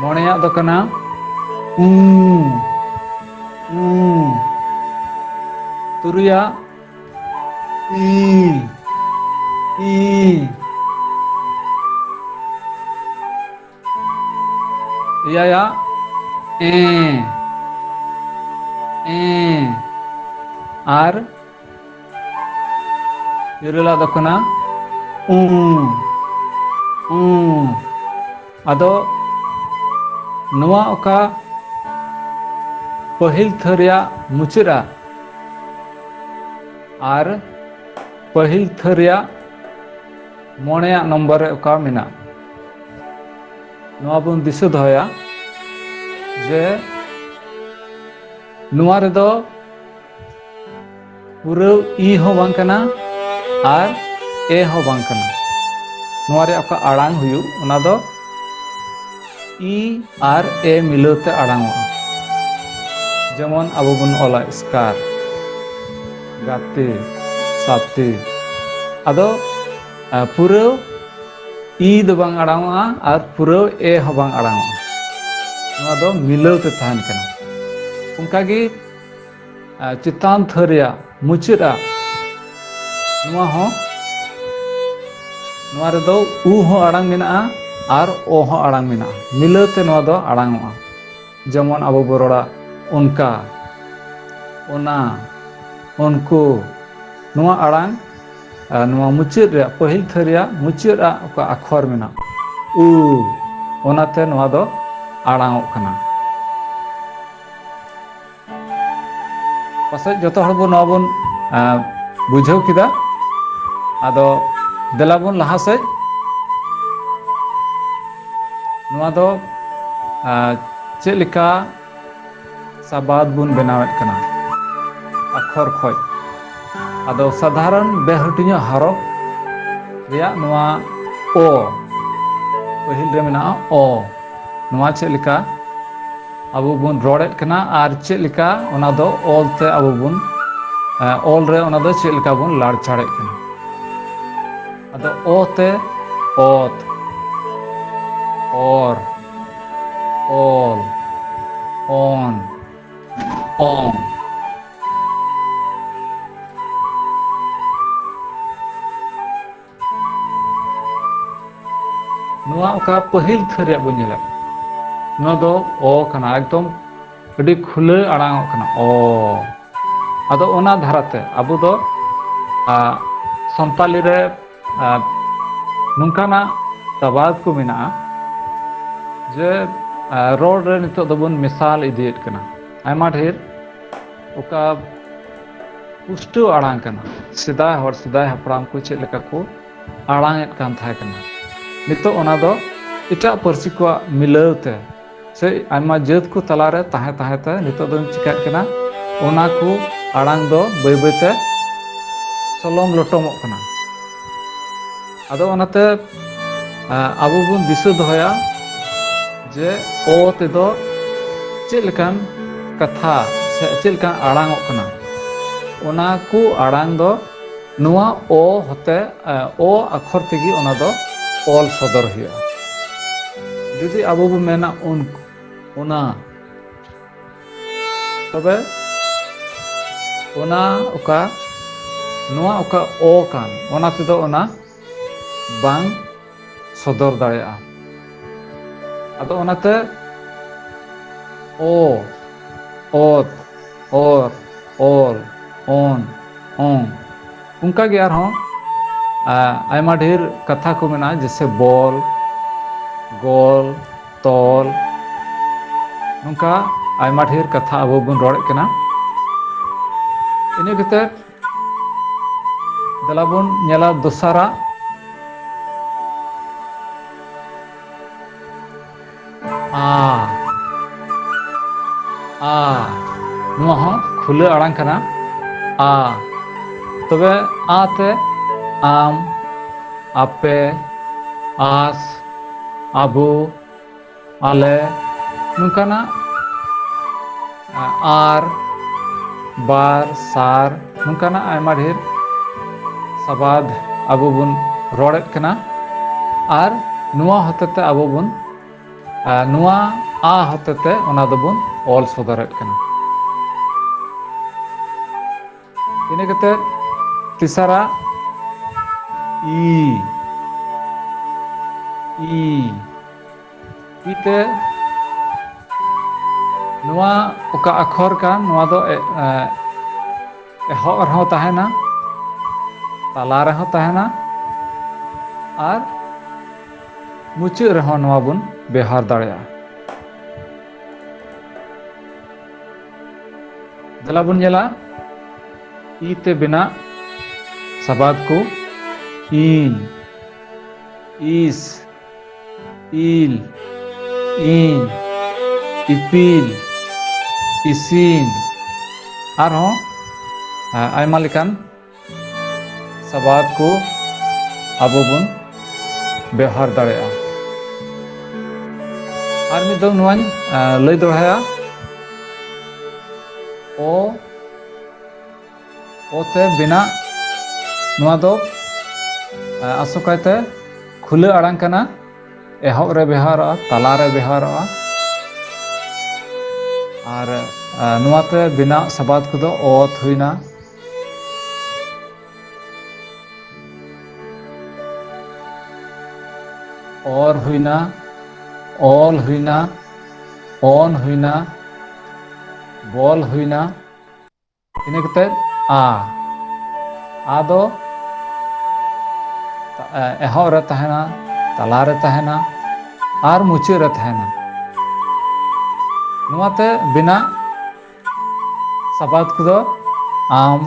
ᱢᱚᱬᱮᱭᱟᱜ ᱫᱚ ᱠᱟᱱᱟ ᱩᱸ ᱩᱸ ᱛᱩᱨᱩᱭᱟᱜ ᱤ ᱤ ᱮᱭᱟᱭᱟᱜ ᱮ ᱮ ᱟᱨ ᱤᱨᱟᱹᱞ ᱟᱫᱚ ᱠᱟᱱᱟ ᱩᱸ ᱩᱸ ᱟᱫᱚ ᱱᱚᱣᱟ ᱚᱠᱟ ᱯᱟᱹᱦᱤᱞ ᱛᱷᱟᱹ ᱨᱮᱭᱟᱜ ᱢᱩᱪᱟᱹᱫᱼᱟ ᱟᱨ ᱯᱟᱹᱦᱤᱞ ᱛᱷᱟᱹ ᱨᱮᱭᱟᱜ ᱢᱚᱬᱮᱭᱟᱜ ᱱᱚᱢᱵᱚᱨ ᱨᱮ ᱚᱠᱟ ᱢᱮᱱᱟᱜ ᱱᱚᱣᱟ ᱵᱚᱱ ᱫᱤᱥᱟᱹ ᱫᱚᱦᱚᱭᱟ ᱡᱮ ᱱᱚᱣᱟ ᱨᱮᱫᱚ ᱯᱩᱨᱟᱹᱣ ᱤ ᱦᱚᱸ ᱵᱟᱝ ᱠᱟᱱᱟ ᱟᱨ ᱮ ᱦᱚᱸ ᱵᱟᱝ ᱠᱟᱱᱟ ᱱᱚᱣᱟ ᱨᱮ ᱚᱠᱟ ᱟᱲᱟᱝ ᱦᱩᱭᱩᱜ ᱚᱱᱟ ᱫᱚ ᱤ ᱟᱨ ᱮ ᱢᱤᱞᱟᱹᱣ ᱛᱮ ᱟᱲᱟᱝᱚᱜᱼᱟ ᱡᱮᱢᱚᱱ ᱟᱵᱚ ᱵᱚᱱ ᱚᱞᱟ ᱥᱠᱟᱨ ᱜᱟᱛᱮ ᱥᱟᱛᱮ ᱟᱫᱚ ᱯᱩᱨᱟᱹᱣ ᱤ ᱫᱚ ᱵᱟᱝ ᱟᱲᱟᱝᱚᱜᱼᱟ ᱟᱨ ᱯᱩᱨᱟᱹᱣ ᱮ ᱦᱚᱸ ᱵᱟᱝ ᱟᱲᱟᱝᱚᱜᱼᱟ ᱱᱚᱣᱟ ᱫᱚ ᱢᱤᱞᱟᱹᱣ ᱛᱮ ᱛᱟᱦᱮᱱ ᱠᱟᱱᱟ ᱚᱱᱠᱟᱜᱮ ᱪᱮᱛᱟᱱ ᱛᱷᱟᱹᱨ ᱨᱮᱭᱟᱜ ᱢᱩᱪᱟᱹᱫ ᱟᱜ ᱱᱚᱣᱟ ᱦᱚᱸ ᱱᱚᱣᱟ ᱨᱮᱫᱚ ᱩ ᱦᱚᱸ ᱟᱲᱟᱝ ᱢᱮᱱᱟᱜᱼᱟ ᱟᱨ ᱚ ᱦᱚᱸ ᱟᱲᱟᱝ ᱢᱮᱱᱟᱜᱼᱟ ᱢᱤᱞᱟᱹᱣ ᱛᱮ ᱱᱚᱣᱟ ᱫᱚ ᱟᱲᱟᱝᱚᱜᱼᱟ ᱡᱮᱢᱚᱱ ᱟᱵᱚ ᱵᱚ ᱨᱚᱲᱟ ᱚᱱᱠᱟ ᱚᱱᱟ ᱩᱱᱠᱩ ᱱᱚᱣᱟ ᱟᱲᱟᱝ ᱱᱚᱣᱟ ᱢᱩᱪᱟᱹᱫ ᱨᱮᱭᱟᱜ ᱯᱟᱹᱦᱤᱞ ᱛᱷᱟᱹ ᱨᱮᱭᱟᱜ ᱢᱩᱪᱟᱹᱫ ᱟᱜ ᱚᱠᱟ ᱟᱠᱷᱚᱨ ᱢᱮᱱᱟᱜᱼᱟ ᱩ ᱚᱱᱟᱛᱮ ᱱᱚᱣᱟ ᱫᱚ ᱟᱲᱟᱝᱚᱜ ᱠᱟᱱᱟ ᱯᱟᱥᱮᱡ ᱡᱚᱛᱚ ᱦᱚᱲ ᱵᱚᱱ ᱱᱚᱣᱟ ᱵᱚᱱ ᱵᱩᱡᱷᱟᱹᱣ ᱠᱮᱫᱟ ᱟᱫᱚ ᱫᱮᱞᱟ ᱵᱚᱱ ᱞᱟᱦᱟ ᱥᱮᱡ ᱱᱚᱣᱟ ᱫᱚ ᱪᱮᱫ ᱞᱮᱠᱟ ᱥᱟᱵᱟᱫ ᱵᱚᱱ ᱵᱮᱱᱟᱣᱮᱫ ᱠᱟᱱᱟ ᱟᱠᱷᱚᱨ ᱠᱷᱚᱡ ᱟᱫᱚ ᱥᱟᱫᱷᱟᱨᱚᱱ ᱵᱮᱦᱟᱹᱴᱤᱧᱚᱜ ᱦᱟᱨᱚᱯ ᱨᱮᱭᱟᱜ ᱱᱚᱣᱟ ᱚ ᱯᱟᱹᱦᱤᱞ ᱨᱮ ᱢᱮᱱᱟᱜᱼᱟ ᱚ ᱱᱚᱣᱟ ᱪᱮᱫ ᱞᱮᱠᱟ ᱟᱵᱚ ᱵᱚᱱ ᱨᱚᱲᱮᱫ ᱠᱟᱱᱟ ᱟᱨ ᱪᱮᱫ ᱞᱮᱠᱟ ᱚᱱᱟ ᱫᱚ ᱚᱞ ᱛᱮ ᱟᱵᱚ ᱵᱚᱱ ᱚᱞ ᱨᱮ ᱚᱱᱟ ᱫᱚ ᱪᱮᱫ ᱞᱮᱠᱟ ᱵᱚᱱ ᱞᱟᱲᱪᱟᱲᱮᱫ ᱠᱟᱱᱟ ᱟᱫᱚ ᱚ ᱛᱮ ᱚᱛ ᱚᱨ ᱚᱞ ᱚᱱ ᱚᱝ ᱱᱚᱣᱟ ᱚᱠᱟ ᱯᱟᱹᱦᱤᱞ ᱛᱷᱟᱹᱨ ᱨᱮᱭᱟᱜ ᱵᱚᱱ ᱧᱮᱞᱮᱫ ᱱᱚᱣᱟ ᱫᱚ ᱚ ᱠᱟᱱᱟ ᱮᱠᱫᱚᱢ ᱟᱹᱰᱤ ᱠᱷᱩᱞᱟᱹ ᱟᱲᱟᱝᱚᱜ ᱠᱟᱱᱟ ᱚ ᱟᱫᱚ ᱚᱱᱟ ᱫᱷᱟᱨᱟᱛᱮ ᱟᱵᱚ ᱫᱚ ᱥᱟᱱᱛᱟᱞᱤ ᱨᱮ ᱱᱚᱝᱠᱟᱱᱟᱜ ᱥᱟᱵᱟᱫ ᱠᱚ ᱢᱮᱱᱟᱜᱼᱟ ᱡᱮ ᱨᱚᱲ ᱨᱮ ᱱᱤᱛᱚᱜ ᱫᱚᱵᱚᱱ ᱢᱮᱥᱟᱞ ᱤᱫᱤᱭᱮᱫ ᱠᱟᱱᱟ ᱟᱭᱢᱟ ᱰᱷᱮᱨ ᱚᱠᱟ ᱯᱩᱥᱴᱟᱹᱣ ᱟᱲᱟᱝ ᱠᱟᱱᱟ ᱥᱮᱫᱟᱭ ᱦᱚᱲ ᱥᱮᱫᱟᱭ ᱦᱟᱯᱲᱟᱢ ᱠᱚ ᱪᱮᱫ ᱞᱮᱠᱟ ᱠᱚ ᱟᱲᱟᱝ ᱮᱫ ᱠᱟᱱ ᱛᱟᱦᱮᱸ ᱠᱟᱱᱟ ᱱᱤᱛᱚᱜ ᱚᱱᱟ ᱫᱚ ᱮᱴᱟᱜ ᱯᱟᱹᱨᱥᱤ ᱠᱚᱣᱟᱜ ᱢᱤᱞᱟᱹᱣ ᱛᱮ ᱥᱮ ᱟᱭᱢᱟ ᱡᱟᱹᱛ ᱠᱚ ᱛᱟᱞᱟᱨᱮ ᱛᱟᱦᱮᱸ ᱛᱟᱦᱮᱸ ᱛᱮ ᱱᱤᱛᱚᱜ ᱫᱚ ᱪᱤᱠᱟᱹᱜ ᱠᱟᱱᱟ ᱚᱱᱟ ᱠᱚ ᱟᱲᱟᱝ ᱫᱚ ᱵᱟᱹᱭ ᱵᱟᱹᱭᱛᱮ ᱥᱚᱞᱚᱝ ᱞᱚᱴᱚᱢᱚᱜ ᱠᱟᱱᱟ ᱟᱫᱚ ᱚᱱᱟᱛᱮ ᱟᱵᱚ ᱵᱚᱱ ᱫᱤᱥᱟᱹ ᱫᱚᱦᱚᱭᱟ ᱡᱮ ᱚ ᱛᱮᱫᱚ ᱪᱮᱫ ᱞᱮᱠᱟᱱ ᱠᱟᱛᱷᱟ ᱥᱮ ᱪᱮᱫ ᱞᱮᱠᱟᱱ ᱟᱲᱟᱝ ᱚᱜ ᱠᱟᱱᱟ ᱚᱱᱟ ᱠᱚ ᱟᱲᱟᱝ ᱫᱚ ᱱᱚᱣᱟ ᱚ ᱦᱚᱛᱮ ᱚ ᱟᱠᱷᱚᱨ ᱛᱮᱜᱮ ᱚᱱᱟ ᱫᱚ ᱚᱞ ᱥᱚᱫᱚᱨ ᱦᱩᱭᱩᱜᱼᱟ ᱡᱩᱫᱤ ᱟᱵᱚ ᱵᱚ ᱢᱮᱱᱟ ᱩᱱ ᱚᱱᱟ ᱛᱚᱵᱮ ᱚᱱᱟ ᱚᱠᱟ ᱱᱚᱣᱟ ᱚᱠᱟ ᱚ ᱠᱟᱱ ᱚᱱᱟ ᱛᱮᱫᱚ ᱚᱱᱟ ᱵᱟᱝ ᱥᱚᱫᱚᱨ ᱫᱟᱲᱮᱭᱟᱜᱼᱟ ᱟᱫᱚ ᱚᱱᱟᱛᱮ ᱚ ᱚᱛ ᱚᱨ ᱚᱞ ᱚᱱ ᱚᱝ ᱚᱱᱠᱟᱜᱮ ᱟᱨᱦᱚᱸ ᱟᱭᱢᱟ ᱰᱷᱮᱨ ᱠᱟᱛᱷᱟ ᱠᱚ ᱢᱮᱱᱟᱜᱼᱟ ᱡᱮᱥᱮ ᱵᱚᱞ ᱜᱚᱞ ᱛᱚᱞ ᱱᱚᱝᱠᱟ ᱟᱭᱢᱟ ᱰᱷᱮᱨ ᱠᱟᱛᱷᱟ ᱟᱵᱚ ᱵᱚᱱ ᱨᱚᱲᱮᱫ ᱠᱟᱱᱟ ᱤᱱᱟᱹ ᱠᱟᱛᱮᱫ ᱫᱮᱞᱟ ᱵᱚᱱ ᱧᱮᱞᱟ ᱫᱚᱥᱟᱨᱟᱜ ᱟ ᱟ ᱱᱚᱣᱟ ᱦᱚᱸ ᱠᱷᱩᱞᱟᱹ ᱟᱲᱟᱝ ᱠᱟᱱᱟ ᱟ ᱛᱚᱵᱮ ᱟ ᱛᱮ ᱟᱢ ᱟᱯᱮ ᱟᱥ ᱟᱵᱚ ᱟᱞᱮ ᱱᱚᱝᱠᱟᱱᱟᱜ ᱟᱨ ᱵᱟᱨ ᱥᱟᱨ ᱱᱚᱝᱠᱟᱱᱟᱜ ᱟᱭᱢᱟ ᱰᱷᱮᱨ ᱥᱟᱵᱟᱫ ᱟᱵᱚ ᱵᱚᱱ ᱨᱚᱲᱮᱫ ᱠᱟᱱᱟ ᱟᱨ ᱱᱚᱣᱟ ᱦᱚᱛᱮᱛᱮ ᱟᱵᱚ ᱵᱚᱱ ᱱᱚᱣᱟ ᱟ ᱦᱚᱛᱮᱛᱮ ᱚᱱᱟ ᱫᱚᱵᱚᱱ ᱚᱞ ᱥᱚᱫᱚᱨᱮᱫ ᱠᱟᱱᱟ ᱤᱱᱟᱹ ᱠᱟᱛᱮᱫ ᱛᱮᱥᱟᱨᱟ ᱤ ᱤ ᱤ ᱛᱮ ᱱᱚᱣᱟ ᱚᱠᱟ ᱟᱠᱷᱚᱨ ᱠᱟᱱ ᱱᱚᱣᱟ ᱫᱚ ᱮ ᱮ ᱮᱦᱚᱵ ᱨᱮᱦᱚᱸ ᱛᱟᱦᱮᱱᱟ ᱛᱟᱞᱟ ᱨᱮᱦᱚᱸ ᱛᱟᱦᱮᱱᱟ ᱟᱨ ᱢᱩᱪᱟᱹᱫ ᱨᱮᱦᱚᱸ ᱱᱚᱣᱟ ᱵᱚᱱ ᱵᱮᱣᱦᱟᱨ ᱫᱟᱲᱮᱭᱟᱜᱼᱟ᱾ ᱫᱮᱞᱟ ᱵᱚᱱ ᱧᱮᱞᱟ ᱤ ᱛᱮ ᱵᱮᱱᱟᱜ ᱥᱟᱵᱟᱫ ᱠᱚ ᱤᱧ ᱤᱥ ᱤᱞ ᱤᱧ ᱤᱯᱤᱞ ᱤᱥᱤᱱ ᱟᱨᱦᱚᱸ ᱟᱭᱢᱟ ᱞᱮᱠᱟᱱ ᱥᱟᱵᱟᱫ ᱠᱚ ᱟᱵᱚ ᱵᱚᱱ ᱵᱮᱣᱦᱟᱨ ᱫᱟᱲᱮᱭᱟᱜᱼᱟ ᱟᱨ ᱢᱤᱫ ᱫᱚ ᱱᱚᱣᱟᱧ ᱞᱟᱹᱭ ᱫᱚᱲᱦᱟᱭᱟ ᱚ ᱚᱛᱮ ᱵᱮᱱᱟᱜ ᱱᱚᱣᱟ ᱫᱚ ᱟᱥᱚᱠᱟᱭᱛᱮ ᱠᱷᱩᱞᱟᱹ ᱟᱲᱟᱝ ᱠᱟᱱᱟ ᱮᱦᱚᱵ ᱨᱮ ᱵᱮᱣᱦᱟᱨᱚᱜᱼᱟ ᱛᱟᱞᱟ ᱨᱮ ᱵᱮᱣᱦᱟᱨᱚᱜᱼᱟ ᱟᱨ ᱱᱚᱣᱟᱛᱮ ᱵᱮᱱᱟᱜ ᱥᱟᱵᱟᱫ ᱠᱚᱫᱚ ᱚᱛ ᱦᱩᱭᱱᱟ ᱚᱨ ᱦᱩᱭᱱᱟ ᱚᱞ ᱦᱩᱭᱱᱟ ᱚᱱ ᱦᱩᱭᱱᱟ ᱵᱚᱞ ᱦᱩᱭᱱᱟ ᱤᱱᱟᱹ ᱠᱟᱛᱮᱫ ᱟ ᱟᱫᱚ ᱮᱦᱚᱵ ᱨᱮ ᱛᱟᱦᱮᱱᱟ ᱛᱟᱞᱟ ᱨᱮ ᱛᱟᱦᱮᱱᱟ ᱟᱨ ᱢᱩᱪᱟᱹᱫ ᱨᱮ ᱛᱟᱦᱮᱱᱟ ᱱᱚᱣᱟᱛᱮ ᱵᱮᱱᱟᱜ ᱥᱟᱵᱟᱫ ᱠᱚᱫᱚ ᱟᱢ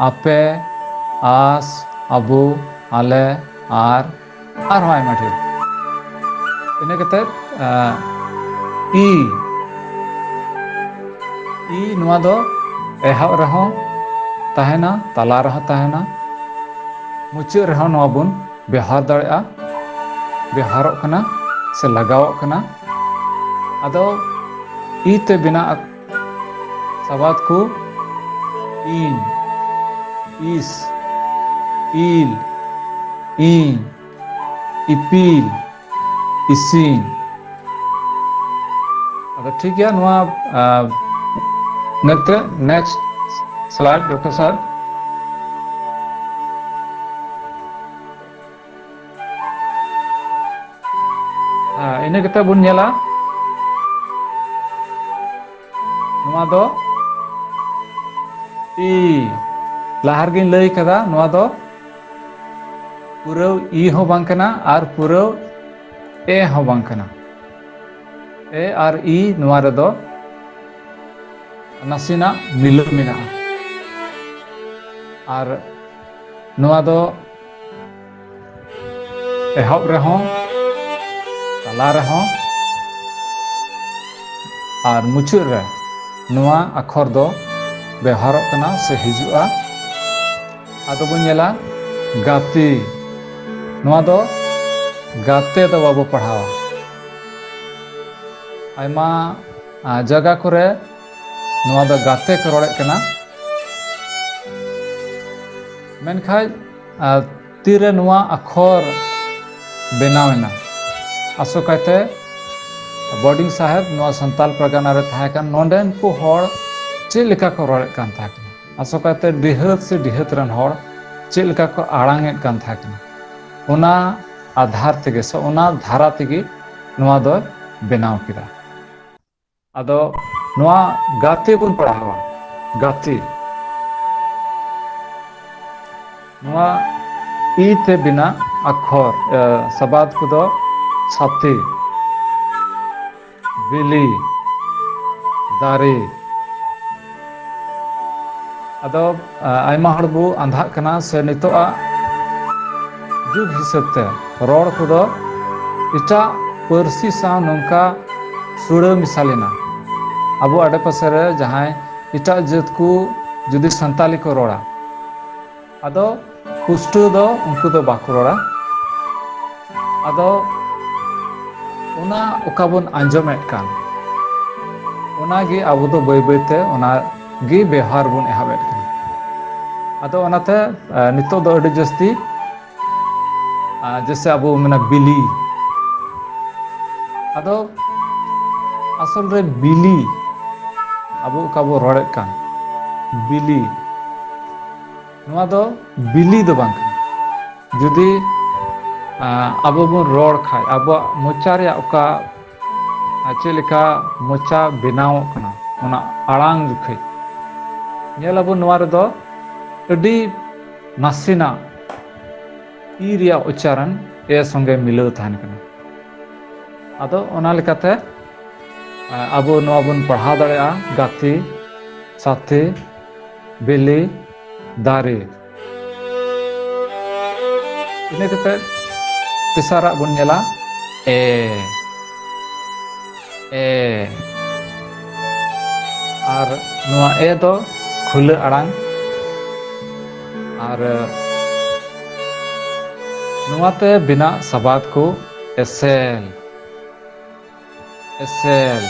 ᱟᱯᱮ ᱟᱥ ᱟᱵᱚ ᱟᱞᱮ ᱟᱨ ᱟᱨᱦᱚᱸ ᱟᱭᱢᱟ ᱰᱷᱮᱨ ᱤᱱᱟᱹ ᱠᱟᱛᱮ ᱤ ᱤ ᱱᱚᱣᱟ ᱫᱚ ᱮᱦᱚᱵ ᱨᱮᱦᱚᱸ ᱛᱟᱦᱮᱱᱟ ᱛᱟᱞᱟ ᱨᱮᱦᱚᱸ ᱛᱟᱦᱮᱱᱟ ᱢᱩᱪᱟᱹᱫ ᱨᱮᱦᱚᱸ ᱱᱚᱣᱟ ᱵᱚᱱ ᱵᱮᱣᱦᱟᱨ ᱫᱟᱲᱮᱭᱟᱜᱼᱟ ᱵᱮᱣᱦᱟᱨᱚᱜ ᱠᱟᱱᱟ ᱥᱮ ᱞᱟᱜᱟᱣᱚᱜ ᱠᱟᱱᱟ ᱟᱫᱚ ᱛᱤ ᱛᱮ ᱵᱮᱱᱟᱜ ᱥᱟᱵᱟᱫ ᱠᱚ ᱤᱧ ᱤᱥ ᱤᱞ ᱤᱧ ᱤᱯᱤᱞ ᱤᱥᱤᱧ ᱟᱫᱚ ᱴᱷᱤᱠ ᱜᱮᱭᱟ ᱱᱚᱣᱟ ᱱᱮᱛᱮ ᱱᱮᱠᱥᱴ ᱥᱞᱟᱭᱤᱰ ᱰᱚᱠᱴᱚᱨ ᱥᱟᱨ ᱤᱱᱟᱹ ᱠᱟᱛᱮ ᱵᱚᱱ ᱧᱮᱞᱟ ᱱᱚᱣᱟ ᱫᱚ ᱤ ᱞᱟᱦᱟ ᱨᱮᱜᱮᱧ ᱞᱟᱹᱭ ᱠᱟᱫᱟ ᱱᱚᱣᱟ ᱫᱚ ᱯᱩᱨᱟᱹᱣ ᱤ ᱦᱚᱸ ᱵᱟᱝ ᱠᱟᱱᱟ ᱟᱨ ᱯᱩᱨᱟᱹᱣ ᱮ ᱦᱚᱸ ᱵᱟᱝ ᱠᱟᱱᱟ ᱮ ᱟᱨ ᱤ ᱱᱚᱣᱟ ᱨᱮᱫᱚ ᱱᱟᱥᱮᱱᱟᱜ ᱢᱤᱞᱟᱹᱣ ᱢᱮᱱᱟᱜᱼᱟ ᱟᱨ ᱱᱚᱣᱟ ᱫᱚ ᱮᱦᱚᱵ ᱨᱮᱦᱚᱸ ᱛᱟᱞᱟ ᱨᱮᱦᱚᱸ ᱟᱨ ᱢᱩᱪᱟᱹᱫ ᱨᱮ ᱱᱚᱣᱟ ᱟᱠᱷᱚᱨ ᱫᱚ ᱵᱮᱣᱦᱟᱨᱚᱜ ᱠᱟᱱᱟ ᱥᱮ ᱦᱤᱡᱩᱜᱼᱟ ᱟᱫᱚ ᱵᱚᱱ ᱧᱮᱞᱟ ᱜᱟᱛᱮ ᱱᱚᱣᱟ ᱫᱚ ᱜᱟᱛᱮ ᱫᱚ ᱵᱟᱵᱚ ᱯᱟᱲᱦᱟᱣᱟ ᱟᱭᱢᱟ ᱡᱟᱭᱜᱟ ᱠᱚᱨᱮ ᱱᱚᱣᱟ ᱫᱚ ᱜᱟᱛᱮ ᱠᱚ ᱨᱚᱲᱮᱫ ᱠᱟᱱᱟ ᱢᱮᱱᱠᱷᱟᱡ ᱛᱤᱨᱮ ᱱᱚᱣᱟ ᱟᱠᱷᱚᱨ ᱵᱮᱱᱟᱣ ᱮᱱᱟ ᱟᱥᱚᱠᱟᱭᱛᱮ ᱵᱚᱰᱤᱝ ᱥᱟᱦᱮᱵ ᱱᱚᱣᱟ ᱥᱟᱱᱛᱟᱞ ᱯᱨᱟᱜᱟᱱᱟ ᱨᱮ ᱛᱟᱦᱮᱸ ᱠᱟᱱ ᱱᱚᱰᱮᱱ ᱠᱚ ᱦᱚᱲ ᱪᱮᱫ ᱞᱮᱠᱟ ᱠᱚ ᱨᱚᱲᱮᱫ ᱠᱟᱱ ᱛᱟᱦᱮᱸ ᱠᱟᱱᱟ ᱟᱥᱚᱠᱟᱭᱛᱮ ᱰᱤᱦᱟᱹᱛ ᱥᱮ ᱰᱤᱦᱟᱹᱛ ᱨᱮᱱ ᱦᱚᱲ ᱪᱮᱫ ᱞᱮᱠᱟ ᱠᱚ ᱟᱲᱟᱝ ᱮᱫ ᱠᱟᱱ ᱛᱟᱦᱮᱸ ᱠᱟᱱᱟ ᱚᱱᱟ ᱟᱫᱷᱟᱨ ᱛᱮᱜᱮ ᱥᱮ ᱚᱱᱟ ᱫᱷᱟᱨᱟ ᱛᱮᱜᱮ ᱱᱚᱣᱟ ᱫᱚᱭ ᱵᱮᱱᱟᱣ ᱠᱮᱫᱟ ᱟᱫᱚ ᱱᱚᱣᱟ ᱜᱟᱛᱮ ᱵᱚᱱ ᱯᱟᱲᱦᱟᱣᱟ ᱜᱟᱛᱮ ᱱᱚᱣᱟ ᱤ ᱛᱮ ᱵᱮᱱᱟᱜ ᱟᱠᱷᱚᱨ ᱥᱟᱵᱟᱫ ᱠᱚᱫᱚ ᱥᱟᱛᱮ ᱵᱤᱞᱤ ᱫᱟᱨᱮ ᱟᱫᱚ ᱟᱭᱢᱟ ᱦᱚᱲ ᱵᱚ ᱟᱸᱫᱷᱟᱜ ᱠᱟᱱᱟ ᱥᱮ ᱱᱤᱛᱚᱜ ᱟᱜ ᱡᱩᱜᱽ ᱦᱤᱥᱟᱹᱵ ᱛᱮ ᱨᱚᱲ ᱠᱚᱫᱚ ᱮᱴᱟᱜ ᱯᱟᱹᱨᱥᱤ ᱥᱟᱶ ᱱᱚᱝᱠᱟ ᱥᱩᱲᱟᱹ ᱢᱮᱥᱟ ᱞᱮᱱᱟ ᱟᱵᱚ ᱟᱰᱮ ᱯᱟᱥᱮ ᱨᱮ ᱡᱟᱦᱟᱸᱭ ᱮᱴᱟᱜ ᱡᱟᱹᱛ ᱠᱚ ᱡᱩᱫᱤ ᱥᱟᱱᱛᱟᱞᱤ ᱠᱚ ᱨᱚᱲᱟ ᱟᱫᱚ ᱯᱩᱥᱴᱟᱹᱣ ᱫᱚ ᱩᱱᱠᱩ ᱫᱚ ᱵᱟᱠᱚ ᱨᱚᱲᱟ ᱟᱫᱚ ᱚᱱᱟ ᱚᱠᱟ ᱵᱚᱱ ᱟᱸᱡᱚᱢᱮᱫ ᱠᱟᱱ ᱚᱱᱟᱜᱮ ᱟᱵᱚ ᱫᱚ ᱵᱟᱹᱭ ᱵᱟᱹᱭᱛᱮ ᱚᱱᱟᱜᱮ ᱵᱮᱣᱦᱟᱨ ᱵᱚᱱ ᱮᱦᱚᱵᱮᱫ ᱠᱟᱱᱟ ᱟᱫᱚ ᱚᱱᱟᱛᱮ ᱱᱤᱛᱚᱜ ᱫᱚ ᱟᱹᱰᱤ ᱡᱟᱹᱥᱛᱤ ᱡᱮᱥᱮ ᱟᱵᱚ ᱢᱮᱱᱟ ᱵᱤᱞᱤ ᱟᱫᱚ ᱟᱥᱚᱞ ᱨᱮ ᱵᱤᱞᱤ ᱟᱵᱚ ᱚᱠᱟ ᱵᱚ ᱨᱚᱲᱮᱫ ᱠᱟᱱ ᱵᱤᱞᱤ ᱱᱚᱣᱟ ᱫᱚ ᱵᱤᱞᱤ ᱫᱚ ᱵᱟᱝ ᱠᱟᱱᱟ ᱡᱩᱫᱤ ᱟᱵᱚ ᱵᱚᱱ ᱨᱚᱲ ᱠᱷᱟᱡ ᱟᱵᱚᱣᱟᱜ ᱢᱚᱪᱟ ᱨᱮᱭᱟᱜ ᱚᱠᱟ ᱪᱮᱫ ᱞᱮᱠᱟ ᱢᱚᱪᱟ ᱵᱮᱱᱟᱣᱚᱜ ᱠᱟᱱᱟ ᱚᱱᱟ ᱟᱲᱟᱝ ᱡᱚᱠᱷᱮᱡ ᱧᱮᱞ ᱟᱵᱚᱱ ᱱᱚᱣᱟ ᱨᱮᱫᱚ ᱟᱹᱰᱤ ᱱᱟᱥᱮᱱᱟᱜ ᱤ ᱨᱮᱭᱟᱜ ᱩᱪᱪᱟᱨᱚᱱ ᱮ ᱥᱚᱸᱜᱮ ᱢᱤᱞᱟᱹᱣ ᱛᱟᱦᱮᱱ ᱠᱟᱱᱟ ᱟᱫᱚ ᱚᱱᱟ ᱞᱮᱠᱟᱛᱮ ᱟᱵᱚ ᱱᱚᱣᱟ ᱵᱚᱱ ᱯᱟᱲᱦᱟᱣ ᱫᱟᱲᱮᱭᱟᱜᱼᱟ ᱜᱟᱛᱮ ᱥᱟᱛᱷᱮ ᱵᱤᱞᱤ ᱫᱟᱨᱮ ᱤᱱᱟᱹ ᱠᱟᱛᱮ ᱛᱮᱥᱟᱨᱟᱜ ᱵᱚᱱ ᱧᱮᱞᱟ ᱮ ᱮ ᱟᱨ ᱱᱚᱣᱟ ᱮ ᱫᱚ ᱠᱷᱩᱞᱟᱹ ᱟᱲᱟᱝ ᱟᱨ ᱱᱚᱣᱟᱛᱮ ᱵᱮᱱᱟᱜ ᱥᱟᱵᱟᱫ ᱠᱚ ᱮᱥᱮᱞ S L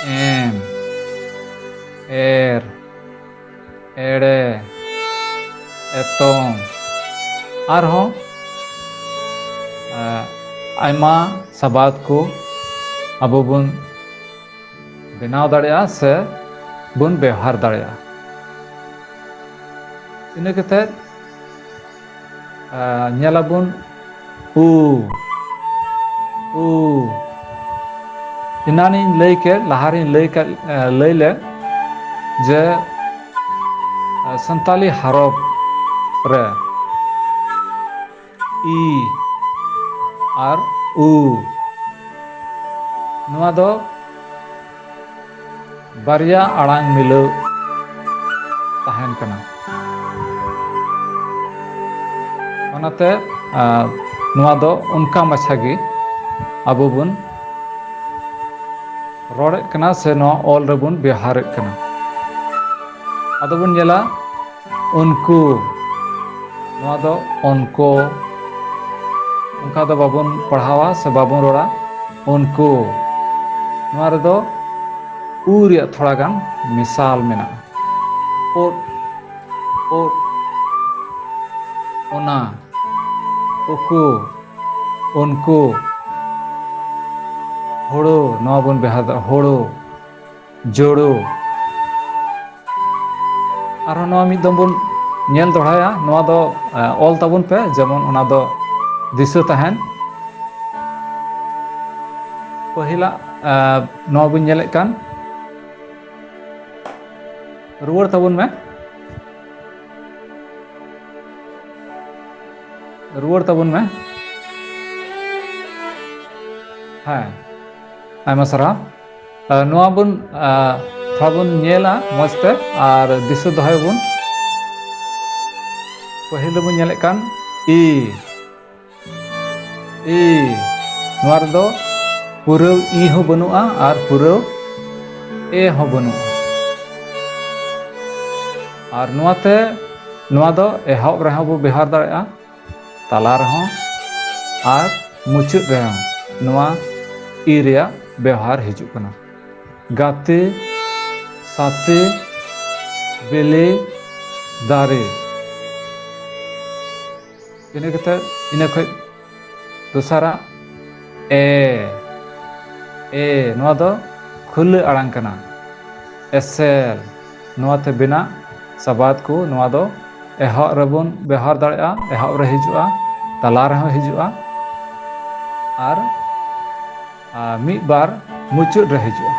M R ᱮᱲᱮ ᱮᱛᱚᱢ ᱟᱨᱦᱚᱸ ᱟᱭᱢᱟ ᱥᱟᱵᱟᱫ ᱠᱚ ᱟᱵᱚ ᱵᱚᱱ ᱵᱮᱱᱟᱣ ᱫᱟᱲᱮᱭᱟᱜᱼᱟ ᱥᱮ ᱵᱚᱱ ᱵᱮᱣᱦᱟᱨ ᱫᱟᱲᱮᱭᱟᱜᱼᱟ ᱤᱱᱟᱹ ᱠᱟᱛᱮᱫ ᱟᱨ ᱧᱮᱞ ᱟᱵᱚᱱ ᱩ ᱩ ᱮᱱᱟᱱᱤᱧ ᱞᱟᱹᱭ ᱠᱮᱫ ᱞᱟᱦᱟᱨᱤᱧ ᱞᱟᱹᱭ ᱠᱮᱫ ᱞᱟᱹᱭ ᱞᱮᱫ ᱡᱮ ᱥᱟᱱᱛᱟᱞᱤ ᱦᱟᱨᱚᱯ ᱨᱮ ᱤ ᱟᱨ ᱩ ᱱᱚᱣᱟ ᱫᱚ ᱵᱟᱨᱭᱟ ᱟᱲᱟᱝ ᱢᱤᱞᱟᱹᱣ ᱛᱟᱦᱮᱱ ᱠᱟᱱᱟ ᱚᱱᱟᱛᱮ ᱱᱚᱣᱟ ᱫᱚ ᱚᱱᱠᱟ ᱢᱟᱪᱷᱟ ᱜᱮ ᱟᱵᱚ ᱵᱚᱱ ᱨᱚᱲᱮᱫ ᱠᱟᱱᱟ ᱥᱮ ᱱᱚᱣᱟ ᱚᱞ ᱨᱮᱵᱚᱱ ᱵᱮᱣᱦᱟᱨᱮᱫ ᱠᱟᱱᱟ ᱟᱫᱚ ᱵᱚᱱ ᱧᱮᱞᱟ ᱩᱱᱠᱩ ᱱᱚᱣᱟ ᱫᱚ ᱩᱱᱠᱩ ᱚᱱᱠᱟ ᱫᱚ ᱵᱟᱵᱚᱱ ᱯᱟᱲᱦᱟᱣᱟ ᱥᱮ ᱵᱟᱵᱚᱱ ᱨᱚᱲᱟ ᱩᱱᱠᱩ ᱱᱚᱣᱟ ᱨᱮᱫᱚ ᱩ ᱨᱮᱭᱟᱜ ᱛᱷᱚᱲᱟ ᱜᱟᱱ ᱢᱮᱥᱟᱞ ᱢᱮᱱᱟᱜᱼᱟ ᱳᱫ ᱳᱫ ᱚᱱᱟ ᱩᱠᱩ ᱩᱱᱠᱩ ᱦᱳᱲᱳ ᱱᱚᱣᱟ ᱵᱚᱱ ᱵᱮᱣᱦᱟᱨᱫᱟ ᱦᱳᱲᱳ ᱡᱳᱲᱳ ᱟᱨᱦᱚᱸ ᱱᱚᱣᱟ ᱢᱤᱫ ᱫᱚᱢ ᱵᱚᱱ ᱧᱮᱞ ᱫᱚᱲᱦᱟᱭᱟ ᱱᱚᱣᱟ ᱫᱚ ᱚᱞ ᱛᱟᱵᱚᱱ ᱯᱮ ᱡᱮᱢᱚᱱ ᱚᱱᱟ ᱫᱚ ᱫᱤᱥᱟᱹ ᱛᱟᱦᱮᱱ ᱯᱟᱹᱦᱤᱞᱟᱜ ᱱᱚᱣᱟ ᱵᱚᱱ ᱧᱮᱞᱮᱫ ᱠᱟᱱ ᱨᱩᱣᱟᱹᱲ ᱛᱟᱵᱚᱱ ᱢᱮ ᱨᱩᱣᱟᱹᱲ ᱛᱟᱵᱚᱱ ᱢᱮ ᱦᱮᱸ ᱟᱭᱢᱟ ᱥᱟᱨᱦᱟᱣ ᱱᱚᱣᱟ ᱵᱚᱱ ᱛᱷᱚᱲᱟ ᱵᱚᱱ ᱧᱮᱞᱟ ᱢᱚᱡᱽ ᱛᱮ ᱟᱨ ᱫᱤᱥᱟᱹ ᱫᱚᱦᱚᱭᱟᱵᱚᱱ ᱯᱟᱹᱦᱤᱞ ᱫᱚᱵᱚᱱ ᱧᱮᱞᱮᱫ ᱠᱟᱱ ᱤ ᱤ ᱱᱚᱣᱟ ᱨᱮᱫᱚ ᱯᱩᱨᱟᱹᱣ ᱤ ᱦᱚᱸ ᱵᱟᱹᱱᱩᱜᱼᱟ ᱟᱨ ᱯᱩᱨᱟᱹᱣ ᱮ ᱦᱚᱸ ᱵᱟᱹᱱᱩᱜᱼᱟ ᱟᱨ ᱱᱚᱣᱟᱛᱮ ᱱᱚᱣᱟ ᱫᱚ ᱮᱦᱚᱵ ᱨᱮᱦᱚᱸ ᱵᱚ ᱵᱮᱣᱦᱟᱨ ᱫᱟᱲᱮᱭᱟᱜᱼᱟ ᱛᱟᱞᱟ ᱨᱮᱦᱚᱸ ᱟᱨ ᱢᱩᱪᱟᱹᱫ ᱨᱮᱦᱚᱸ ᱱᱚᱣᱟ ᱤ ᱨᱮᱭᱟᱜ ᱵᱮᱣᱦᱟᱨ ᱦᱤᱡᱩᱜ ᱠᱟᱱᱟ ᱜᱟᱛᱮ ᱥᱟᱛᱮ ᱵᱮᱞᱮ ᱫᱟᱨᱮ ᱤᱱᱟᱹ ᱠᱟᱛᱮ ᱤᱱᱟᱹ ᱠᱷᱚᱡ ᱫᱚᱥᱟᱨᱟᱜ ᱮ ᱮ ᱱᱚᱣᱟ ᱫᱚ ᱠᱷᱩᱞᱟᱹ ᱟᱲᱟᱝ ᱠᱟᱱᱟ ᱮᱥᱮᱞ ᱱᱚᱣᱟ ᱛᱮ ᱵᱮᱱᱟᱜ ᱥᱟᱵᱟᱫ ᱠᱚ ᱱᱚᱣᱟ ᱫᱚ ᱮᱦᱚᱵ ᱨᱮᱵᱚᱱ ᱵᱮᱣᱦᱟᱨ ᱫᱟᱲᱮᱭᱟᱜᱼᱟ ᱮᱦᱚᱵ ᱨᱮ ᱦᱤᱡᱩᱜᱼᱟ ᱛᱟᱞᱟ ᱨᱮᱦᱚᱸ ᱦᱤᱡᱩᱜᱼᱟ ᱟᱨ ᱢᱤᱫ ᱵᱟᱨ ᱢᱩᱪᱟᱹᱫ ᱨᱮ ᱦᱤᱡᱩᱜᱼᱟ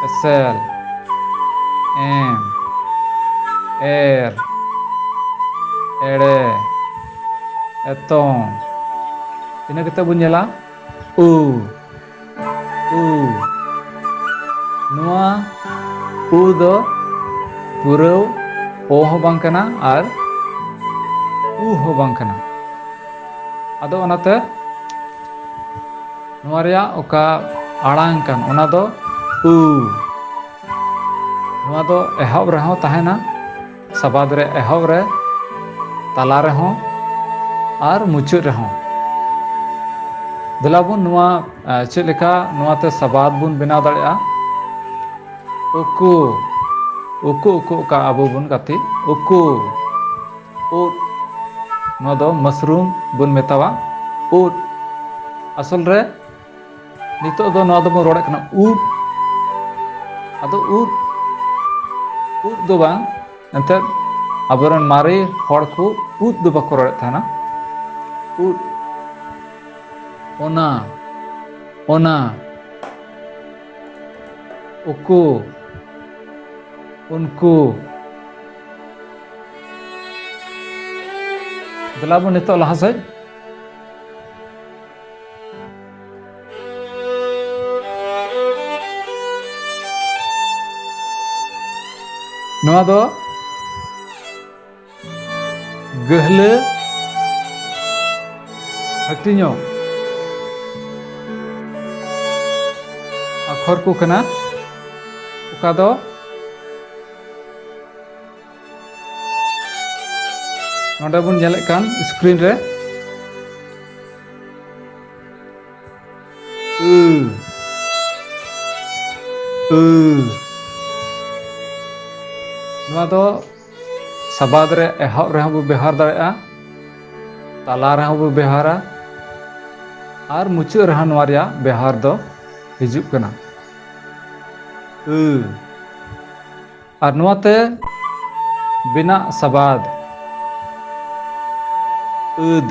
ᱮᱥᱮᱞ ᱮᱢ ᱮᱨ ᱮᱲᱮ ᱮᱛᱚᱢ ᱤᱱᱟᱹ ᱠᱟᱛᱮᱫ ᱵᱚᱱ ᱧᱮᱞᱟ ᱩ ᱩ ᱱᱚᱣᱟ ᱩ ᱫᱚ ᱯᱩᱨᱟᱹᱣ ᱚ ᱦᱚᱸ ᱵᱟᱝ ᱠᱟᱱᱟ ᱟᱨ ᱩ ᱦᱚᱸ ᱵᱟᱝ ᱠᱟᱱᱟ ᱟᱫᱚ ᱚᱱᱟᱛᱮ ᱱᱚᱣᱟ ᱨᱮᱭᱟᱜ ᱚᱠᱟ ᱟᱲᱟᱝ ᱠᱟᱱ ᱚᱱᱟ ᱫᱚ ᱩ ᱱᱚᱣᱟ ᱫᱚ ᱮᱦᱚᱵ ᱨᱮᱦᱚᱸ ᱛᱟᱦᱮᱱᱟ ᱥᱟᱵᱟᱫ ᱨᱮ ᱮᱦᱚᱵ ᱨᱮ ᱛᱟᱞᱟ ᱨᱮᱦᱚᱸ ᱟᱨ ᱢᱩᱪᱟᱹᱫ ᱨᱮᱦᱚᱸ ᱫᱮᱞᱟ ᱵᱚᱱ ᱱᱚᱣᱟ ᱪᱮᱫ ᱞᱮᱠᱟ ᱱᱚᱣᱟ ᱛᱮ ᱥᱟᱵᱟᱫ ᱵᱚᱱ ᱵᱮᱱᱟᱣ ᱫᱟᱲᱮᱭᱟᱜᱼᱟ ᱩᱠᱩ ᱩᱠᱩ ᱩᱠᱩ ᱚᱠᱟ ᱟᱵᱚ ᱵᱚᱱ ᱜᱟᱛᱮ ᱩᱠᱩ ᱩᱫ ᱱᱚᱣᱟ ᱫᱚ ᱢᱟᱥᱨᱩᱢ ᱵᱚᱱ ᱢᱮᱛᱟᱣᱟ ᱩᱫ ᱟᱥᱚᱞ ᱨᱮ ᱱᱤᱛᱚᱜ ᱫᱚ ᱱᱚᱣᱟ ᱫᱚᱵᱚᱱ ᱨᱚᱲᱮᱫ ᱠᱟᱱᱟ ᱩᱫ ᱟᱫᱚ ᱩᱫ ᱩᱫ ᱫᱚ ᱵᱟᱝ ᱮᱱᱛᱮᱫ ᱟᱵᱚᱨᱮᱱ ᱢᱟᱨᱮ ᱦᱚᱲ ᱠᱚ ᱩᱫ ᱫᱚ ᱵᱟᱠᱚ ᱨᱚᱲᱮᱫ ᱛᱟᱦᱮᱱᱟ ᱩᱫ ᱚᱱᱟ ᱚᱱᱟ ᱩᱠᱩ ᱩᱱᱠᱩ ᱫᱮᱞᱟ ᱵᱚᱱ ᱱᱤᱛᱚᱜ ᱞᱟᱦᱟ ᱥᱮᱫ ᱱᱚᱣᱟ ᱫᱚ ᱜᱟᱹᱦᱞᱟᱹ ᱦᱟᱹᱴᱤᱧᱚᱜ ᱟᱠᱷᱚᱨ ᱠᱚ ᱠᱟᱱᱟ ᱚᱠᱟ ᱫᱚ ᱱᱚᱰᱮ ᱵᱚᱱ ᱧᱮᱞᱮᱫ ᱠᱟᱱ ᱥᱠᱨᱤᱱ ᱨᱮ ᱱᱚᱣᱟ ᱫᱚ ᱥᱟᱵᱟᱫ ᱨᱮ ᱮᱦᱚᱵ ᱨᱮᱦᱚᱸ ᱵᱚ ᱵᱮᱣᱦᱟᱨ ᱫᱟᱲᱮᱭᱟᱜᱼᱟ ᱛᱟᱞᱟ ᱨᱮᱦᱚᱸ ᱵᱚ ᱵᱮᱣᱦᱟᱨᱟ ᱟᱨ ᱢᱩᱪᱟᱹᱫ ᱨᱮᱦᱚᱸ ᱱᱚᱣᱟ ᱨᱮᱭᱟᱜ ᱵᱮᱣᱦᱟᱨ ᱫᱚ ᱦᱤᱡᱩᱜ ᱠᱟᱱᱟ ᱟᱨ ᱱᱚᱣᱟ ᱛᱮ ᱵᱮᱱᱟᱜ ᱥᱟᱵᱟᱫ ᱟᱹᱫ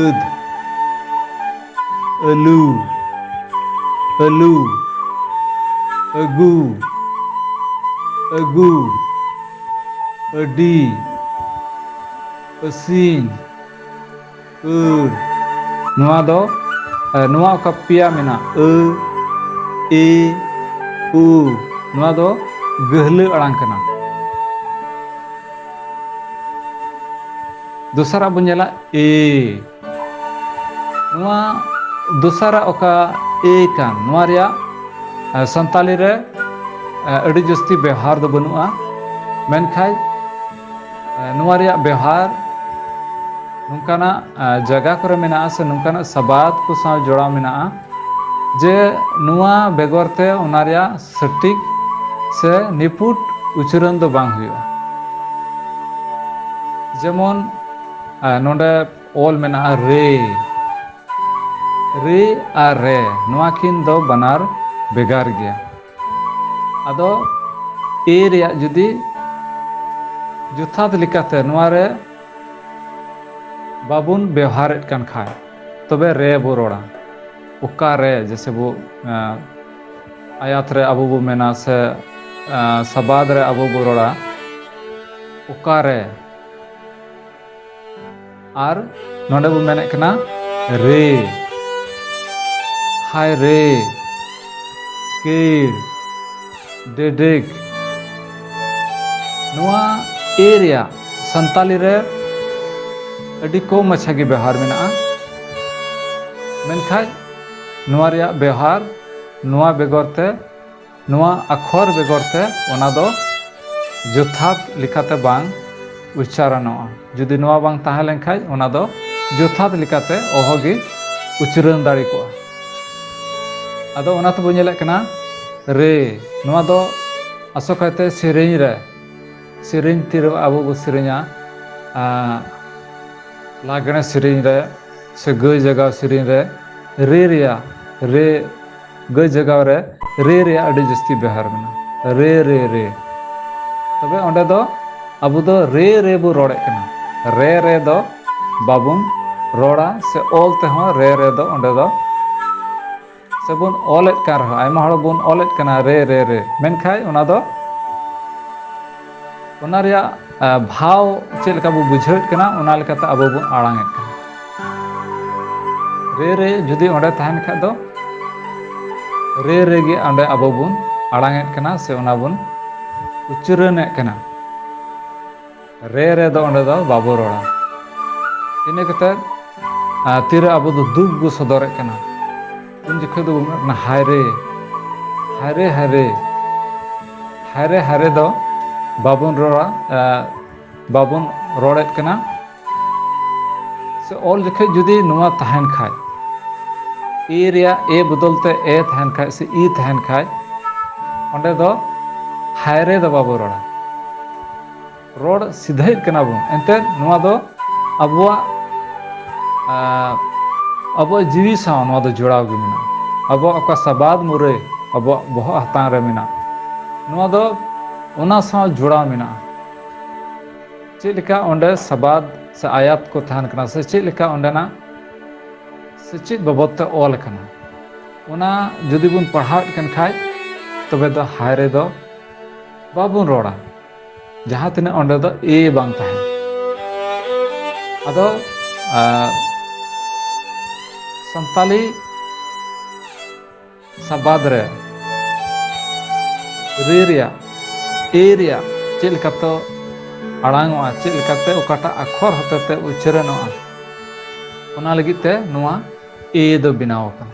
ᱟᱹᱫ ᱟᱹᱞᱩ ᱟᱹᱞᱩ ᱟᱹᱜᱩ ᱟᱹᱜᱩ ᱟᱹᱰᱤ ᱟᱹᱥᱤᱱ ᱟᱹᱲ ᱱᱚᱣᱟ ᱫᱚ ᱱᱚᱣᱟ ᱚᱠᱟ ᱯᱮᱭᱟ ᱢᱮᱱᱟᱜ ᱟᱹ ᱮ ᱩ ᱱᱚᱣᱟ ᱫᱚ ᱜᱟᱹᱦᱞᱟᱹ ᱟᱲᱟᱝ ᱠᱟᱱᱟ ᱫᱚᱥᱟᱨᱟᱜ ᱵᱚᱱ ᱧᱮᱞᱟ ᱮ ᱱᱚᱣᱟ ᱫᱚᱥᱟᱨᱟᱜ ᱚᱠᱟ ᱮ ᱠᱟᱱ ᱱᱚᱣᱟ ᱨᱮᱭᱟᱜ ᱥᱟᱱᱛᱟᱞᱤ ᱨᱮ ᱟᱹᱰᱤ ᱡᱟᱹᱥᱛᱤ ᱵᱮᱣᱦᱟᱨ ᱫᱚ ᱵᱟᱹᱱᱩᱜᱼᱟ ᱢᱮᱱᱠᱷᱟᱡ ᱱᱚᱣᱟ ᱨᱮᱭᱟᱜ ᱵᱮᱣᱦᱟᱨ ᱱᱚᱝᱠᱟᱱᱟᱜ ᱡᱟᱭᱜᱟ ᱠᱚᱨᱮ ᱢᱮᱱᱟᱜᱼᱟ ᱥᱮ ᱱᱚᱝᱠᱟᱱᱟᱜ ᱥᱟᱵᱟᱫ ᱠᱚ ᱥᱟᱶ ᱡᱚᱲᱟᱣ ᱢᱮᱱᱟᱜᱼᱟ ᱡᱮ ᱱᱚᱣᱟ ᱵᱮᱜᱚᱨ ᱛᱮ ᱚᱱᱟ ᱨᱮᱭᱟᱜ ᱥᱚᱴᱷᱤᱠ ᱥᱮ ᱱᱤᱯᱷᱩᱴ ᱩᱪᱟᱹᱨᱚᱱ ᱫᱚ ᱵᱟᱝ ᱦᱩᱭᱩᱜᱼᱟ ᱡᱮᱢᱚᱱ ᱱᱚᱰᱮ ᱚᱞ ᱢᱮᱱᱟᱜᱼᱟ ᱨᱮ ᱨᱮ ᱟᱨ ᱨᱮ ᱱᱚᱣᱟ ᱠᱤᱱ ᱫᱚ ᱵᱟᱱᱟᱨ ᱵᱷᱮᱜᱟᱨ ᱜᱮᱭᱟ ᱟᱫᱚ ᱮ ᱨᱮᱭᱟᱜ ᱡᱩᱫᱤ ᱡᱚᱛᱷᱟᱛ ᱞᱮᱠᱟᱛᱮ ᱱᱚᱣᱟ ᱨᱮ ᱵᱟᱵᱚᱱ ᱵᱮᱣᱦᱟᱨᱮᱫ ᱠᱟᱱ ᱠᱷᱟᱡ ᱛᱚᱵᱮ ᱨᱮ ᱵᱚ ᱨᱚᱲᱟ ᱚᱠᱟ ᱨᱮ ᱡᱮᱥᱮ ᱵᱚ ᱟᱭᱟᱛ ᱨᱮ ᱟᱵᱚ ᱵᱚ ᱢᱮᱱᱟ ᱥᱮ ᱥᱟᱵᱟᱫ ᱨᱮ ᱟᱵᱚ ᱵᱚ ᱨᱚᱲᱟ ᱚᱠᱟ ᱨᱮ ᱟᱨ ᱱᱚᱰᱮ ᱵᱚ ᱢᱮᱱᱮᱫ ᱠᱟᱱᱟ ᱨᱮ ᱦᱟᱭ ᱨᱮ ᱠᱤᱲ ᱰᱮᱰᱮᱠ ᱱᱚᱣᱟ ᱮ ᱨᱮᱭᱟᱜ ᱥᱟᱱᱛᱟᱞᱤ ᱨᱮ ᱟᱹᱰᱤ ᱠᱚᱢ ᱢᱟᱪᱷᱟ ᱜᱮ ᱵᱮᱣᱦᱟᱨ ᱢᱮᱱᱟᱜᱼᱟ ᱢᱮᱱᱠᱷᱟᱡ ᱱᱚᱣᱟ ᱨᱮᱭᱟᱜ ᱵᱮᱣᱦᱟᱨ ᱱᱚᱣᱟ ᱵᱮᱜᱚᱨ ᱛᱮ ᱱᱚᱣᱟ ᱟᱠᱷᱚᱨ ᱵᱮᱜᱚᱨ ᱛᱮ ᱚᱱᱟ ᱫᱚ ᱡᱚᱛᱷᱟᱛ ᱞᱮᱠᱟᱛᱮ ᱵᱟᱝ ᱩᱪᱪᱟᱨᱚᱱᱚᱜᱼᱟ ᱡᱩᱫᱤ ᱱᱚᱣᱟ ᱵᱟᱝ ᱛᱟᱦᱮᱸ ᱞᱮᱱᱠᱷᱟᱡ ᱚᱱᱟ ᱫᱚ ᱡᱚᱛᱷᱟᱛ ᱞᱮᱠᱟᱛᱮ ᱚᱦᱚ ᱜᱮ ᱩᱪᱨᱟᱹᱱ ᱫᱟᱲᱮ ᱠᱚᱜᱼᱟ ᱟᱫᱚ ᱚᱱᱟ ᱛᱮᱵᱚ ᱧᱮᱞᱮᱫ ᱠᱟᱱᱟ ᱨᱮ ᱱᱚᱣᱟ ᱫᱚ ᱟᱥᱚᱠᱟᱭᱛᱮ ᱥᱮᱨᱮᱧ ᱨᱮ ᱥᱮᱨᱮᱧ ᱛᱤᱨ ᱟᱵᱚ ᱵᱚ ᱥᱮᱨᱮᱧᱟ ᱞᱟᱜᱽᱬᱮ ᱥᱮᱨᱮᱧ ᱨᱮ ᱥᱮ ᱜᱟᱹᱭ ᱡᱟᱜᱟᱣ ᱥᱮᱨᱮᱧ ᱨᱮ ᱨᱮ ᱨᱮᱭᱟᱜ ᱨᱮ ᱜᱟᱹᱭ ᱡᱟᱜᱟᱣ ᱨᱮ ᱨᱮ ᱨᱮᱭᱟᱜ ᱟᱹᱰᱤ ᱡᱟᱹᱥᱛᱤ ᱵᱮᱣᱦᱟᱨ ᱢᱮᱱᱟᱜᱼᱟ ᱨᱮ ᱨᱮ ᱨᱮ ᱛᱚᱵᱮ ᱚᱸᱰᱮ ᱫᱚ ᱟᱵᱚ ᱫᱚ ᱨᱮ ᱨᱮ ᱵᱚ ᱨᱚᱲᱮᱫ ᱠᱟᱱᱟ ᱨᱮ ᱨᱮ ᱫᱚ ᱵᱟᱵᱚᱱ ᱨᱚᱲᱟ ᱥᱮ ᱚᱞ ᱛᱮᱦᱚᱸ ᱨᱮ ᱨᱮ ᱫᱚ ᱚᱸᱰᱮ ᱫᱚ ᱥᱮ ᱵᱚᱱ ᱚᱞᱮᱫ ᱠᱟᱱ ᱨᱮᱦᱚᱸ ᱟᱭᱢᱟ ᱦᱚᱲ ᱵᱚᱱ ᱚᱞᱮᱫ ᱠᱟᱱᱟ ᱨᱮ ᱨᱮ ᱨᱮ ᱢᱮᱱᱠᱷᱟᱡ ᱚᱱᱟ ᱫᱚ ᱚᱱᱟ ᱨᱮᱭᱟᱜ ᱵᱷᱟᱣ ᱪᱮᱫ ᱞᱮᱠᱟ ᱵᱚ ᱵᱩᱡᱷᱟᱹᱣᱮᱫ ᱠᱟᱱᱟ ᱚᱱᱟ ᱞᱮᱠᱟᱛᱮ ᱟᱵᱚ ᱵᱚᱱ ᱟᱲᱟᱝᱮᱫ ᱠᱟᱱᱟ ᱨᱮ ᱨᱮ ᱡᱩᱫᱤ ᱚᱸᱰᱮ ᱛᱟᱦᱮᱱ ᱠᱷᱟᱡ ᱫᱚ ᱨᱮ ᱨᱮᱜᱮ ᱚᱸᱰᱮ ᱟᱵᱚ ᱵᱚᱱ ᱟᱲᱟᱝᱮᱫ ᱠᱟᱱᱟ ᱥᱮ ᱚᱱᱟ ᱵᱚᱱ ᱩᱪᱟᱹᱨᱟᱹᱱᱮᱫ ᱠᱟᱱᱟ ᱨᱮ ᱨᱮ ᱫᱚ ᱚᱸᱰᱮ ᱫᱚ ᱵᱟᱵᱚ ᱨᱚᱲᱟ ᱤᱱᱟᱹ ᱠᱟᱛᱮᱫ ᱛᱤᱨᱮ ᱟᱵᱚ ᱫᱚ ᱫᱩᱠ ᱵᱚ ᱥᱚᱫᱚᱨᱮᱫ ᱠᱟᱱᱟ ᱩᱱ ᱡᱚᱠᱷᱚᱱ ᱫᱚ ᱵᱚᱱ ᱢᱮᱱᱟ ᱦᱟᱭᱨᱮ ᱦᱟᱭᱨᱮ ᱦᱟᱭᱨᱮ ᱦᱟᱭᱨᱮ ᱦᱟᱭᱨᱮ ᱫᱚ ᱵᱟᱵᱚᱱ ᱨᱚᱲᱟ ᱵᱟᱵᱚᱱ ᱨᱚᱲᱮᱫ ᱠᱟᱱᱟ ᱥᱮ ᱚᱞ ᱡᱚᱠᱷᱚᱱ ᱡᱩᱫᱤ ᱱᱚᱣᱟ ᱛᱟᱦᱮᱱ ᱠᱷᱟᱡ ᱮ ᱨᱮᱭᱟᱜ ᱮ ᱵᱚᱫᱚᱞ ᱛᱮ ᱮ ᱛᱟᱦᱮᱱ ᱠᱷᱟᱡ ᱥᱮ ᱤ ᱛᱟᱦᱮᱱ ᱠᱷᱟᱡ ᱚᱸᱰᱮ ᱫᱚ ᱦᱟᱭᱨᱮ ᱫᱚ ᱵᱟᱵᱚ ᱨᱚᱲᱟ ᱨᱚᱲ ᱥᱤᱫᱷᱟᱹᱭᱮᱫ ᱠᱟᱱᱟ ᱵᱚᱱ ᱮᱱᱛᱮᱫ ᱱᱚᱣᱟ ᱫᱚ ᱟᱵᱚᱣᱟᱜ ᱟᱵᱚᱣᱟᱜ ᱡᱤᱣᱤ ᱥᱟᱶ ᱱᱚᱣᱟ ᱫᱚ ᱡᱚᱲᱟᱣ ᱜᱮ ᱢᱮᱱᱟᱜᱼᱟ ᱟᱵᱚᱣᱟᱜ ᱚᱠᱟ ᱥᱟᱵᱟᱫ ᱢᱩᱨᱟᱹᱭ ᱟᱵᱚᱣᱟᱜ ᱵᱚᱦᱚᱜ ᱦᱟᱛᱟᱝ ᱨᱮ ᱢᱮᱱᱟᱜᱼᱟ ᱱᱚᱣᱟ ᱫᱚ ᱚᱱᱟ ᱥᱟᱶ ᱡᱚᱲᱟᱣ ᱢᱮᱱᱟᱜᱼᱟ ᱪᱮᱫ ᱞᱮᱠᱟ ᱚᱸᱰᱮ ᱥᱟᱵᱟᱫ ᱥᱮ ᱟᱭᱟᱛ ᱠᱚ ᱛᱟᱦᱮᱱ ᱠᱟᱱᱟ ᱥᱮ ᱪᱮᱫ ᱞᱮᱠᱟ ᱚᱸᱰᱮᱱᱟᱜ ᱥᱮ ᱪᱮᱫ ᱵᱟᱵᱚᱫ ᱛᱮ ᱚᱞ ᱠᱟᱱᱟ ᱚᱱᱟ ᱡᱩᱫᱤ ᱵᱚᱱ ᱯᱟᱲᱦᱟᱣᱮᱫ ᱠᱟᱱ ᱠᱷᱟᱡ ᱛᱚᱵᱮ ᱫᱚ ᱦᱟᱭ ᱨᱮᱫᱚ ᱵᱟᱵᱚᱱ ᱨᱚᱲᱟ ᱡᱟᱦᱟᱸ ᱛᱤᱱᱟᱹᱜ ᱚᱸᱰᱮ ᱫᱚ ᱮ ᱵᱟᱝ ᱛᱟᱦᱮᱱ ᱟᱫᱚ ᱥᱟᱱᱛᱟᱞᱤ ᱥᱟᱵᱟᱫ ᱨᱮ ᱨᱮ ᱨᱮᱭᱟᱜ ᱮ ᱨᱮᱭᱟᱜ ᱪᱮᱫ ᱞᱮᱠᱟᱛᱮ ᱟᱲᱟᱝᱚᱜᱼᱟ ᱪᱮᱫ ᱞᱮᱠᱟᱛᱮ ᱚᱠᱟᱴᱟᱜ ᱟᱠᱷᱚᱨ ᱦᱚᱛᱮᱛᱮ ᱩᱪᱪᱟᱨᱚᱱᱚᱜᱼᱟ ᱚᱱᱟ ᱞᱟᱹᱜᱤᱫ ᱛᱮ ᱱᱚᱣᱟ ᱮ ᱫᱚ ᱵᱮᱱᱟᱣ ᱟᱠᱟᱱᱟ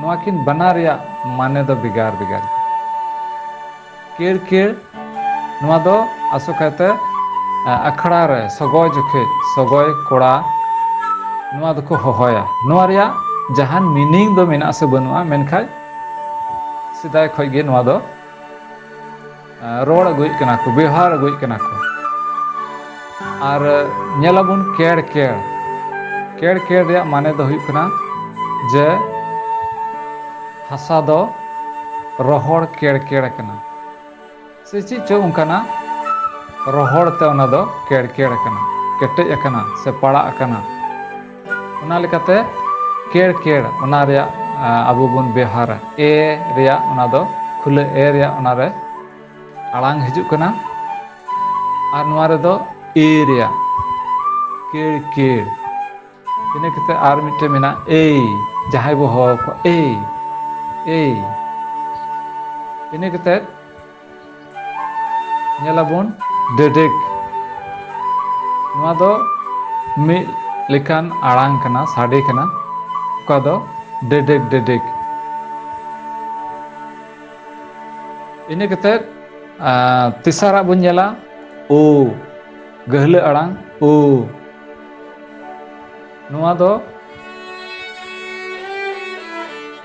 ᱱᱚᱣᱟ ᱠᱤᱱ ᱵᱟᱱᱟᱨ ᱨᱮᱭᱟᱜ ᱢᱟᱱᱮ ᱫᱚ ᱵᱷᱮᱜᱟᱨ ᱵᱷᱮᱜᱟᱨ ᱜᱮᱭᱟ ᱠᱮᱲ ᱠᱮᱲ ᱱᱚᱣᱟ ᱫᱚ ᱟᱥᱚᱠᱟᱭᱛᱮ ᱟᱠᱷᱲᱟ ᱨᱮ ᱥᱚᱜᱚᱭ ᱡᱚᱠᱷᱮᱡ ᱥᱚᱜᱚᱭ ᱠᱚᱲᱟ ᱱᱚᱣᱟ ᱫᱚᱠᱚ ᱦᱚᱦᱚᱭᱟ ᱱᱚᱣᱟ ᱨᱮᱭᱟᱜ ᱡᱟᱦᱟᱱ ᱢᱤᱱᱤᱝ ᱫᱚ ᱢᱮᱱᱟᱜ ᱟᱥᱮ ᱵᱟᱹᱱᱩᱜᱼᱟ ᱢᱮᱱᱠᱷᱟᱡ ᱥᱮᱫᱟᱭ ᱠᱷᱚᱡ ᱜᱮ ᱱᱚᱣᱟ ᱫᱚ ᱨᱚᱲ ᱟᱹᱜᱩᱭᱮᱫ ᱠᱟᱱᱟ ᱠᱚ ᱵᱮᱣᱦᱟᱨ ᱟᱹᱜᱩᱭᱮᱫ ᱠᱟᱱᱟ ᱠᱚ ᱟᱨ ᱧᱮᱞᱟᱵᱚᱱ ᱠᱮᱲ ᱠᱮᱲ ᱠᱮᱲ ᱠᱮᱲ ᱨᱮᱭᱟᱜ ᱢᱟᱱᱮ ᱫᱚ ᱦᱩᱭᱩᱜ ᱠᱟᱱᱟ ᱡᱮ ᱦᱟᱥᱟ ᱫᱚ ᱨᱚᱦᱚᱲ ᱠᱮᱲ ᱠᱮᱲ ᱟᱠᱟᱱᱟ ᱥᱮ ᱪᱮᱫ ᱪᱚ ᱚᱱᱠᱟᱱᱟᱜ ᱨᱚᱦᱚᱲ ᱛᱮ ᱚᱱᱟ ᱫᱚ ᱠᱮᱲ ᱠᱮᱲ ᱟᱠᱟᱱᱟ ᱠᱮᱴᱮᱡ ᱟᱠᱟᱱᱟ ᱥᱮ ᱯᱟᱲᱟᱜ ᱟᱠᱟᱱᱟ ᱚᱱᱟ ᱞᱮᱠᱟᱛᱮ ᱠᱮᱲ ᱠᱮᱲ ᱚᱱᱟ ᱨᱮᱭᱟᱜ ᱟᱵᱚ ᱵᱚᱱ ᱵᱮᱣᱦᱟᱨᱟ ᱮ ᱨᱮᱭᱟᱜ ᱚᱱᱟ ᱫᱚ ᱠᱷᱩᱞᱟᱹ ᱮ ᱨᱮᱭᱟᱜ ᱚᱱᱟ ᱨᱮ ᱟᱲᱟᱝ ᱦᱤᱡᱩᱜ ᱠᱟᱱᱟ ᱟᱨ ᱱᱚᱣᱟ ᱨᱮᱫᱚ ᱮ ᱨᱮᱭᱟᱜ ᱠᱮᱲ ᱠᱮᱲ ᱤᱱᱟᱹ ᱠᱟᱛᱮ ᱟᱨ ᱢᱤᱫᱴᱮᱱ ᱢᱮᱱᱟᱜᱼᱟ ᱮᱭ ᱡᱟᱦᱟᱸᱭ ᱵᱚ ᱦᱚᱦᱚ ᱠᱚᱣᱟ ᱮᱭ ᱮᱭ ᱤᱱᱟᱹ ᱠᱟᱛᱮ ᱧᱮᱞᱟᱵᱚᱱ ᱰᱮᱰᱮᱠ ᱱᱚᱣᱟ ᱫᱚ ᱢᱤᱫ ᱞᱮᱠᱟᱱ ᱟᱲᱟᱝ ᱠᱟᱱᱟ ᱥᱟᱰᱮ ᱠᱟᱱᱟ ᱚᱠᱟ ᱫᱚ ᱰᱮᱰᱮᱠ ᱰᱮᱰᱮᱠ ᱤᱱᱟᱹ ᱠᱟᱛᱮᱫ ᱛᱮᱥᱟᱨᱟᱜ ᱵᱚᱱ ᱧᱮᱞᱟ ᱳ ᱜᱟᱹᱦᱞᱟᱹ ᱟᱲᱟᱝ ᱳ ᱱᱚᱣᱟ ᱫᱚ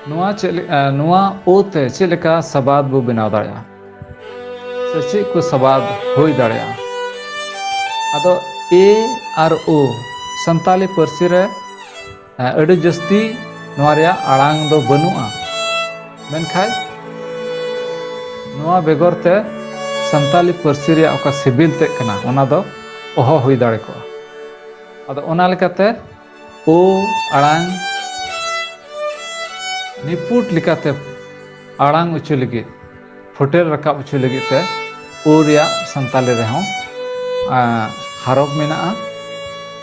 ᱱᱚᱣᱟ ᱪᱮᱫ ᱱᱚᱣᱟ ᱳ ᱛᱮ ᱪᱮᱫ ᱞᱮᱠᱟ ᱥᱟᱵᱟᱫ ᱵᱚ ᱵᱮᱱᱟᱣ ᱫᱟᱲᱮᱭᱟᱜᱼᱟ ᱥᱮ ᱪᱮᱫ ᱠᱚ ᱥᱟᱵᱟᱫ ᱦᱩᱭ ᱫᱟᱲᱮᱭᱟᱜᱼᱟ ᱟᱫᱚ ᱮ ᱟᱨ ᱳ ᱥᱟᱱᱛᱟᱞᱤ ᱯᱟᱹᱨᱥᱤ ᱨᱮ ᱟᱹᱰᱤ ᱡᱟᱹᱥᱛᱤ ᱱᱚᱣᱟ ᱨᱮᱭᱟᱜ ᱟᱲᱟᱝ ᱫᱚ ᱵᱟᱹᱱᱩᱜᱼᱟ ᱢᱮᱱᱠᱷᱟᱱ ᱱᱚᱣᱟ ᱵᱮᱜᱚᱨ ᱛᱮ ᱥᱟᱱᱛᱟᱞᱤ ᱯᱟᱹᱨᱥᱤ ᱨᱮᱭᱟᱜ ᱚᱠᱟ ᱥᱤᱵᱤᱞ ᱛᱮᱫ ᱠᱟᱱᱟ ᱚᱱᱟ ᱫᱚ ᱚᱦᱚ ᱦᱩᱭ ᱫᱟᱲᱮ ᱠᱚᱜᱼᱟ ᱟᱫᱚ ᱚᱱᱟ ᱞᱮᱠᱟᱛᱮ ᱳ ᱟᱲᱟᱝ ᱱᱤᱯᱩᱴ ᱞᱮᱠᱟᱛᱮ ᱟᱲᱟᱝ ᱚᱪᱚ ᱞᱟᱹᱜᱤᱫ ᱯᱷᱩᱴᱮᱞ ᱨᱟᱠᱟᱵ ᱚᱪᱚ ᱞᱟᱹᱜᱤᱫ ᱛᱮ ᱳ ᱨᱮᱭᱟᱜ ᱥᱟᱱᱛᱟᱞᱤ ᱨᱮᱦᱚᱸ ᱦᱟᱨᱚᱯ ᱢᱮᱱᱟᱜᱼᱟ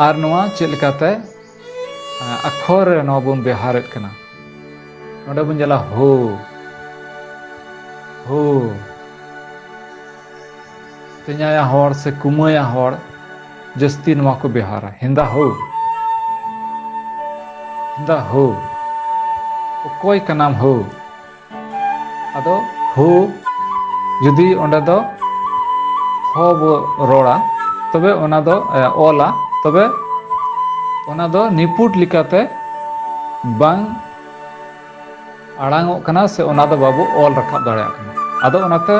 ᱟᱨ ᱱᱚᱣᱟ ᱪᱮᱫ ᱞᱮᱠᱟᱛᱮ ᱟᱠᱷᱚᱨ ᱨᱮ ᱱᱚᱣᱟ ᱵᱚᱱ ᱵᱮᱣᱦᱟᱨᱮᱫ ᱠᱟᱱᱟ ᱱᱚᱰᱮ ᱵᱚᱱ ᱧᱮᱞᱟ ᱦᱳ ᱦᱳ ᱛᱮᱧᱟᱭᱟ ᱦᱚᱲ ᱥᱮ ᱠᱩᱢᱟᱹᱭᱟ ᱦᱚᱲ ᱡᱟᱹᱥᱛᱤ ᱱᱚᱣᱟ ᱠᱚ ᱵᱮᱣᱦᱟᱨᱟ ᱦᱮᱸᱫᱟ ᱦᱳ ᱦᱮᱸᱫᱟ ᱦᱳ ᱚᱠᱚᱭ ᱠᱟᱱᱟᱢ ᱦᱳ ᱟᱫᱚ ᱦᱳ ᱡᱩᱫᱤ ᱚᱸᱰᱮ ᱫᱚ ᱦᱚ ᱵᱚ ᱨᱚᱲᱟ ᱛᱚᱵᱮ ᱚᱱᱟ ᱫᱚ ᱚᱞᱟ ᱛᱚᱵᱮ ᱚᱱᱟ ᱫᱚ ᱱᱤᱯᱩᱴ ᱞᱮᱠᱟᱛᱮ ᱵᱟᱝ ᱟᱲᱟᱝᱚᱜ ᱠᱟᱱᱟ ᱥᱮ ᱚᱱᱟ ᱫᱚ ᱵᱟᱵᱚ ᱚᱞ ᱨᱟᱠᱟᱵ ᱫᱟᱲᱮᱭᱟᱜ ᱠᱟᱱᱟ ᱟᱫᱚ ᱚᱱᱟᱛᱮ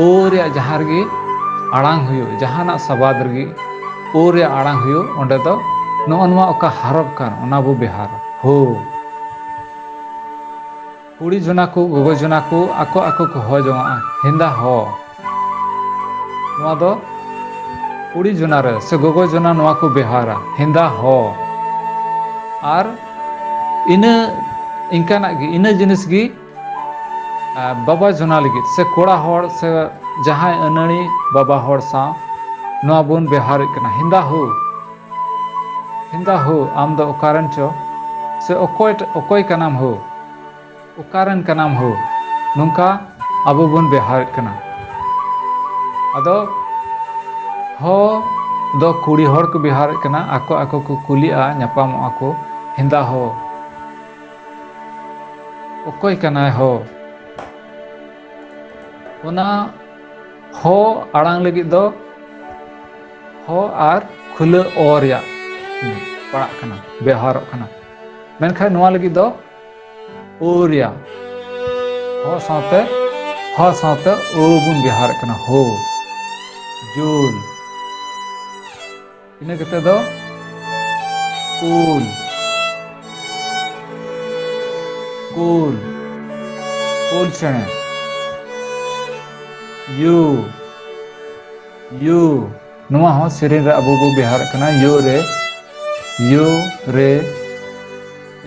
ᱳ ᱨᱮᱭᱟᱜ ᱡᱟᱦᱟᱸ ᱨᱮᱜᱮ ᱟᱲᱟᱝ ᱦᱩᱭᱩᱜ ᱡᱟᱦᱟᱱᱟᱜ ᱥᱟᱵᱟᱫ ᱨᱮᱜᱮ ᱳ ᱨᱮᱭᱟᱜ ᱟᱲᱟᱝ ᱦᱩᱭᱩᱜ ᱚᱸᱰᱮ ᱫᱚ ᱱᱚᱜᱼᱚ ᱱᱚᱣᱟ ᱚᱠᱟ ᱦᱟᱨᱚᱯ ᱠᱟᱱ ᱚᱱᱟ ᱵᱚ ᱵᱮᱣᱦᱟᱨᱟ ᱦᱳ ᱠᱩᱲᱤ ᱡᱚᱱᱟ ᱠᱚ ᱜᱚᱜᱚ ᱡᱚᱱᱟ ᱠᱚ ᱟᱠᱚ ᱟᱠᱚ ᱠᱚ ᱦᱚ ᱡᱚᱝᱟᱜᱼᱟ ᱦᱮᱸᱫᱟ ᱦᱚ ᱱᱚᱣᱟ ᱫᱚ ᱠᱩᱲᱤ ᱡᱚᱱᱟ ᱨᱮ ᱥᱮ ᱜᱚᱜᱚ ᱡᱚᱱᱟ ᱱᱚᱣᱟ ᱠᱚ ᱵᱮᱣᱦᱟᱨᱟ ᱦᱮᱸᱫᱟ ᱦᱚ ᱟᱨ ᱤᱱᱟᱹ ᱤᱱᱠᱟᱱᱟᱜ ᱜᱮ ᱤᱱᱟᱹ ᱡᱤᱱᱤᱥ ᱜᱮ ᱵᱟᱵᱟ ᱡᱚᱱᱟ ᱞᱟᱹᱜᱤᱫ ᱥᱮ ᱠᱚᱲᱟ ᱦᱚᱲ ᱥᱮ ᱡᱟᱦᱟᱸᱭ ᱟᱹᱱᱟᱹᱲᱤ ᱵᱟᱵᱟ ᱦᱚᱲ ᱥᱟᱶ ᱱᱚᱣᱟ ᱵᱚᱱ ᱵᱮᱣᱦᱟᱨᱮᱫ ᱠᱟᱱᱟ ᱦᱮᱸᱫᱟ ᱦᱳ ᱦᱮᱸᱫᱟ ᱦᱳ ᱟᱢ ᱫᱚ ᱚᱠᱟᱨᱮᱱ ᱪᱚ ᱥᱮ ᱚᱠᱚᱭ ᱚᱠᱚᱭ ᱠᱟᱱᱟᱢ ᱦᱳ ᱚᱠᱟᱨᱮᱱ ᱠᱟᱱᱟᱢ ᱦᱳ ᱱᱚᱝᱠᱟ ᱟᱵᱚ ᱵᱚᱱ ᱵᱮᱣᱦᱟᱨᱮᱫ ᱠᱟᱱᱟ ᱟᱫᱚ ᱦᱚ ᱫᱚ ᱠᱩᱲᱤ ᱦᱚᱲ ᱠᱚ ᱵᱮᱣᱦᱟᱨᱮᱫ ᱠᱟᱱᱟ ᱟᱠᱚ ᱟᱠᱚ ᱠᱚ ᱠᱩᱞᱤᱜᱼᱟ ᱧᱟᱯᱟᱢᱚᱜᱼᱟ ᱠᱚ ᱦᱮᱸᱫᱟ ᱦᱚ ᱚᱠᱚᱭ ᱠᱟᱱᱟᱭ ᱦᱚ ᱚᱱᱟ ᱦᱚ ᱟᱲᱟᱝ ᱞᱟᱹᱜᱤᱫ ᱫᱚ ᱦᱚ ᱟᱨ ᱠᱷᱩᱞᱟᱹ ᱚ ᱨᱮᱭᱟᱜ ᱯᱟᱲᱟᱜ ᱠᱟᱱᱟ ᱵᱮᱣᱦᱟᱨᱚᱜ ᱠᱟᱱᱟ ᱢᱮᱱᱠᱷᱟᱱ ᱱᱚᱣᱟ ᱞᱟᱹᱜᱤᱫ ᱫᱚ ᱳᱨᱭᱟ ᱦᱚ ᱥᱟᱶᱛᱮ ᱦᱚ ᱥᱟᱶᱛᱮ ᱳ ᱵᱚᱱ ᱵᱮᱣᱦᱟᱨᱮᱫ ᱠᱟᱱᱟ ᱦᱳ ᱡᱳᱞ ᱤᱱᱟᱹ ᱠᱟᱛᱮ ᱫᱚ ᱠᱩᱞ ᱠᱩᱞ ᱠᱩᱞ ᱪᱮᱬᱮ ᱭᱩ ᱭᱩ ᱱᱚᱣᱟ ᱦᱚᱸ ᱥᱮᱨᱮᱧ ᱨᱮ ᱟᱵᱚ ᱵᱚ ᱵᱮᱣᱦᱟᱨᱮᱫ ᱠᱟᱱᱟ ᱭᱳ ᱨᱮ ᱭᱳ ᱨᱮ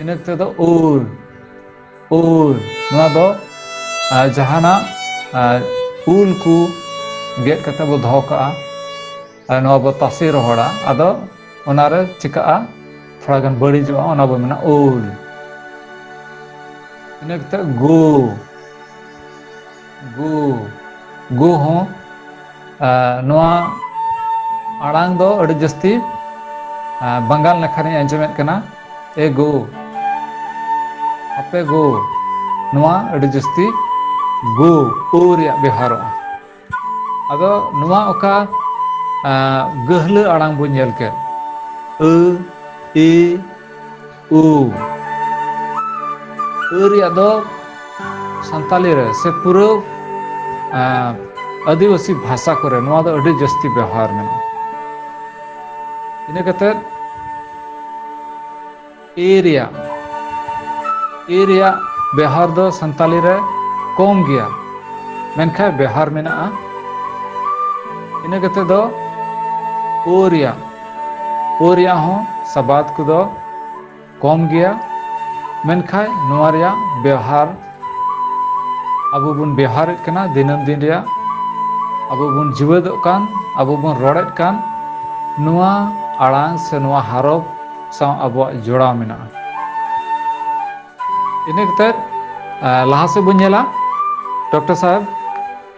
ᱤᱱᱟᱹ ᱠᱟᱛᱮ ᱫᱚ ᱩᱨ ᱩᱨ ᱱᱚᱣᱟ ᱫᱚ ᱡᱟᱦᱟᱱᱟᱜ ᱩᱞ ᱠᱚ ᱜᱮᱫ ᱠᱟᱛᱮ ᱵᱚ ᱫᱚᱦᱚ ᱠᱟᱜᱼᱟ ᱟᱨ ᱱᱚᱣᱟ ᱵᱚ ᱛᱟᱥᱮ ᱨᱚᱦᱚᱲᱟ ᱟᱫᱚ ᱚᱱᱟᱨᱮ ᱪᱤᱠᱟᱹᱜᱼᱟ ᱛᱷᱚᱲᱟ ᱜᱟᱱ ᱵᱟᱹᱲᱤᱡᱚᱜᱼᱟ ᱚᱱᱟ ᱵᱚ ᱢᱮᱱᱟ ᱩᱞ ᱤᱱᱟᱹ ᱠᱟᱛᱮ ᱜᱳ ᱜᱩ ᱜᱩ ᱦᱚᱸ ᱱᱚᱣᱟ ᱟᱲᱟᱝ ᱫᱚ ᱟᱹᱰᱤ ᱡᱟᱹᱥᱛᱤ ᱵᱟᱝᱜᱟᱞ ᱱᱟᱠᱷᱟ ᱨᱮᱧ ᱟᱸᱡᱚᱢᱮᱫ ᱠᱟᱱᱟ ᱮ ᱜᱩ ᱟᱯᱮ ᱜᱩ ᱱᱚᱣᱟ ᱟᱹᱰᱤ ᱡᱟᱹᱥᱛᱤ ᱜᱩ ᱩ ᱨᱮᱭᱟᱜ ᱵᱮᱣᱦᱟᱨᱚᱜᱼᱟ ᱟᱫᱚ ᱱᱚᱣᱟ ᱚᱠᱟ ᱜᱟᱹᱦᱞᱟᱹ ᱟᱲᱟᱝ ᱵᱚᱱ ᱧᱮᱞ ᱠᱮᱫ ᱟᱹ ᱤ ᱩ ᱟᱹ ᱨᱮᱭᱟᱜ ᱫᱚ ᱥᱟᱱᱛᱟᱞᱤ ᱨᱮ ᱥᱮ ᱯᱩᱨᱟᱹ ᱟᱹᱫᱤᱵᱟᱹᱥᱤ ᱵᱷᱟᱥᱟ ᱠᱚᱨᱮ ᱱᱚᱣᱟ ᱫᱚ ᱟᱹᱰᱤ ᱡᱟᱹᱥᱛᱤ ᱵᱮᱣᱦᱟᱨ ᱢᱮᱱᱟᱜᱼᱟ ᱤᱱᱟᱹ ᱠᱟᱛᱮᱫ ᱮ ᱨᱮᱭᱟᱜ ᱮ ᱨᱮᱭᱟᱜ ᱵᱮᱣᱦᱟᱨ ᱫᱚ ᱥᱟᱱᱛᱟᱞᱤ ᱨᱮ ᱠᱚᱢ ᱜᱮᱭᱟ ᱢᱮᱱᱠᱷᱟᱱ ᱵᱮᱣᱦᱟᱨ ᱢᱮᱱᱟᱜᱼᱟ ᱤᱱᱟᱹ ᱠᱟᱛᱮᱫ ᱫᱚ ᱳ ᱨᱮᱭᱟᱜ ᱳ ᱨᱮᱭᱟᱜ ᱦᱚᱸ ᱥᱟᱵᱟᱫ ᱠᱚᱫᱚ ᱠᱚᱢ ᱜᱮᱭᱟ ᱢᱮᱱᱠᱷᱟᱡ ᱱᱚᱣᱟ ᱨᱮᱭᱟᱜ ᱵᱮᱣᱦᱟᱨ ᱟᱵᱚ ᱵᱚᱱ ᱵᱮᱣᱦᱟᱨᱮᱫ ᱠᱟᱱᱟ ᱫᱤᱱᱟᱹᱢ ᱫᱤᱱ ᱨᱮᱭᱟᱜ ᱟᱵᱚ ᱵᱚᱱ ᱡᱤᱣᱮᱫᱚᱜ ᱠᱟᱱ ᱟᱵᱚ ᱵᱚᱱ ᱨᱚᱲᱮᱫ ᱠᱟᱱ ᱱᱚᱣᱟ ᱟᱲᱟᱝ ᱥᱮ ᱱᱚᱣᱟ ᱦᱟᱨᱚᱯ ᱥᱟᱶ ᱟᱵᱚᱣᱟᱜ ᱡᱚᱲᱟᱣ ᱢᱮᱱᱟᱜᱼᱟ ᱤᱱᱟᱹ ᱠᱟᱛᱮᱫ ᱞᱟᱦᱟ ᱥᱮᱫ ᱵᱚᱱ ᱧᱮᱞᱟ ᱰᱚᱠᱴᱚᱨ ᱥᱟᱦᱮᱵᱽ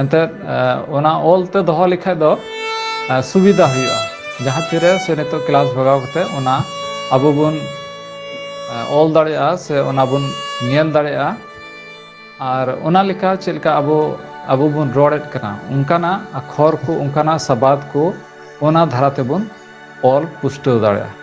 ᱮᱱᱛᱮᱫ ᱚᱱᱟ ᱚᱞ ᱛᱮ ᱫᱚᱦᱚ ᱞᱮᱠᱷᱟᱡ ᱫᱚ ᱥᱩᱵᱤᱫᱟ ᱦᱩᱭᱩᱜᱼᱟ ᱡᱟᱦᱟᱸ ᱛᱤᱨᱮ ᱥᱮ ᱱᱤᱛᱚᱜ ᱠᱞᱟᱥ ᱵᱷᱟᱜᱟᱣ ᱠᱟᱛᱮ ᱚᱱᱟ ᱟᱵᱚ ᱵᱚᱱ ᱚᱞ ᱫᱟᱲᱮᱭᱟᱜᱼᱟ ᱥᱮ ᱚᱱᱟ ᱵᱚᱱ ᱧᱮᱞ ᱫᱟᱲᱮᱭᱟᱜᱼᱟ ᱟᱨ ᱚᱱᱟ ᱞᱮᱠᱟ ᱪᱮᱫ ᱞᱮᱠᱟ ᱟᱵᱚ ᱟᱵᱚ ᱵᱚᱱ ᱨᱚᱲᱮᱫ ᱠᱟᱱᱟ ᱚᱱᱠᱟᱱᱟᱜ ᱟᱠᱷᱚᱨ ᱠᱚ ᱚᱱᱠᱟᱱᱟᱜ ᱥᱟᱵᱟᱫ ᱠᱚ ᱚᱱᱟ ᱫᱷᱟᱨᱟ ᱛᱮᱵᱚᱱ ᱚᱞ ᱯᱩᱥᱴᱟᱹᱣ ᱫᱟᱲᱮᱭᱟᱜᱼᱟ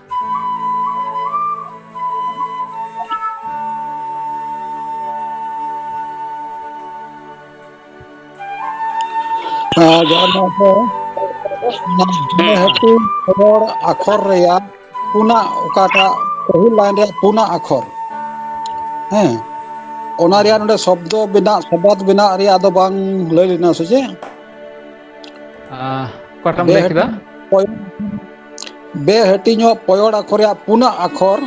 ᱨᱚᱲ ᱟᱠᱷᱚᱨ ᱨᱮᱭᱟᱜ ᱯᱩᱱᱟᱜ ᱚᱠᱟᱴᱟᱜ ᱯᱟᱹᱦᱤᱞ ᱞᱟᱭᱤᱱ ᱨᱮᱭᱟᱜ ᱯᱩᱱᱟᱜ ᱟᱠᱷᱚᱨ ᱦᱮᱸ ᱚᱱᱟ ᱨᱮᱭᱟᱜ ᱱᱚᱰᱮ ᱥᱚᱵᱫᱚ ᱵᱮᱱᱟᱜ ᱥᱚᱵᱟᱫ ᱵᱮᱱᱟᱜ ᱨᱮᱭᱟᱜ ᱫᱚ ᱵᱟᱝ ᱞᱟᱹᱭ ᱞᱮᱱᱟ ᱥᱮ ᱪᱮᱫ ᱟᱸ ᱚᱠᱟᱴᱟᱢ ᱞᱟᱹᱭ ᱠᱮᱫᱟ? ᱦᱳᱭ ᱵᱮᱼᱦᱟᱹᱴᱤᱧᱚᱜ ᱯᱚᱭᱚᱲ ᱟᱠᱷᱚᱨ ᱨᱮᱭᱟᱜ ᱯᱩᱱᱟᱜ ᱟᱠᱷᱚᱨ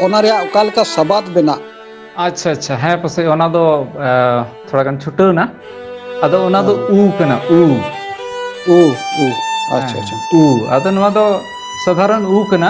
ᱚᱱᱟ ᱨᱮᱭᱟᱜ ᱚᱠᱟ ᱞᱮᱠᱟ ᱥᱟᱵᱟᱫ ᱵᱮᱱᱟᱜ? ᱟᱪᱪᱷᱟ ᱟᱪᱪᱷᱟ ᱦᱮᱸ ᱯᱟᱥᱮᱡ ᱚᱱᱟ ᱫᱚ ᱮ ᱛᱷᱚᱲᱟ ᱜᱟᱱ ᱪᱷᱩᱴᱟᱹᱣ ᱮᱱᱟ᱾ ᱟᱫᱚ ᱚᱱᱟ ᱫᱚ ᱩ ᱠᱟᱱᱟ ᱩ᱾ ᱩ ᱩ ᱟᱪᱪᱷᱟ ᱦᱮᱸ ᱟᱪᱪᱷᱟ᱾ ᱩ ᱟᱫᱚ ᱱᱚᱣᱟ ᱫᱚ ᱥᱟᱫᱷᱟᱨᱚᱱ ᱩ ᱠᱟᱱᱟ᱾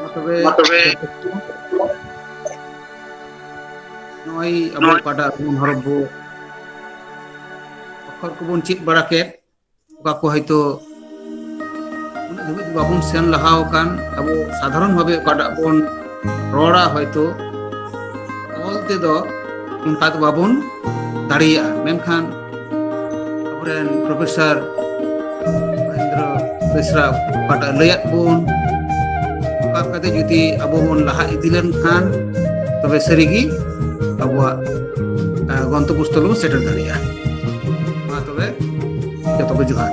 ᱢᱟ ᱛᱚᱵᱮ ᱱᱚᱜᱼᱚᱭ ᱟᱵᱚ ᱚᱠᱟᱴᱟᱜ ᱩᱢ ᱦᱚᱨᱚᱜ ᱵᱚ ᱚᱠᱷᱚᱨ ᱠᱚᱵᱚᱱ ᱪᱮᱫ ᱵᱟᱲᱟ ᱠᱮᱫ ᱚᱠᱟ ᱠᱚ ᱦᱚᱭᱛᱳ ᱩᱱᱟᱹᱜ ᱫᱷᱟᱹᱵᱤᱡ ᱫᱚ ᱵᱟᱵᱚᱱ ᱥᱮᱱ ᱞᱟᱦᱟ ᱟᱠᱟᱱ ᱟᱵᱚ ᱥᱟᱫᱷᱟᱨᱚᱱ ᱵᱷᱟᱵᱮ ᱚᱠᱟᱴᱟᱜ ᱵᱚᱱ ᱨᱚᱲᱟ ᱦᱚᱭᱛᱳ ᱚᱞ ᱛᱮᱫᱚ ᱚᱱᱠᱟ ᱫᱚ ᱵᱟᱵᱚᱱ ᱫᱟᱲᱮᱭᱟᱜᱼᱟ ᱢᱮᱱᱠᱷᱟᱱ ᱟᱵᱚᱨᱮᱱ ᱯᱨᱚᱯᱷᱮᱥᱚᱨ ᱢᱚᱦᱮᱱᱫᱨᱚ ᱵᱮᱥᱨᱟ ᱚᱠᱟᱴᱟᱜ ᱞᱟᱹᱭᱟᱫ ᱵᱚᱱ ᱚᱱᱠᱟ ᱠᱟᱛᱮ ᱡᱩᱫᱤ ᱟᱵᱚ ᱵᱚᱱ ᱞᱟᱦᱟ ᱤᱫᱤ ᱞᱮᱱᱠᱷᱟᱱ ᱛᱚᱵᱮ ᱥᱟᱹᱨᱤᱜᱮ ᱟᱵᱚᱣᱟᱜ ᱜᱚᱱᱛᱚᱵᱚᱥᱛᱷᱚ ᱵᱚᱱ ᱥᱮᱴᱮᱨ ᱫᱟᱲᱮᱭᱟᱜᱼᱟ ᱢᱟ ᱛᱚᱵᱮ ᱡᱚᱛᱚ ᱠᱚ ᱡᱚᱦᱟᱨ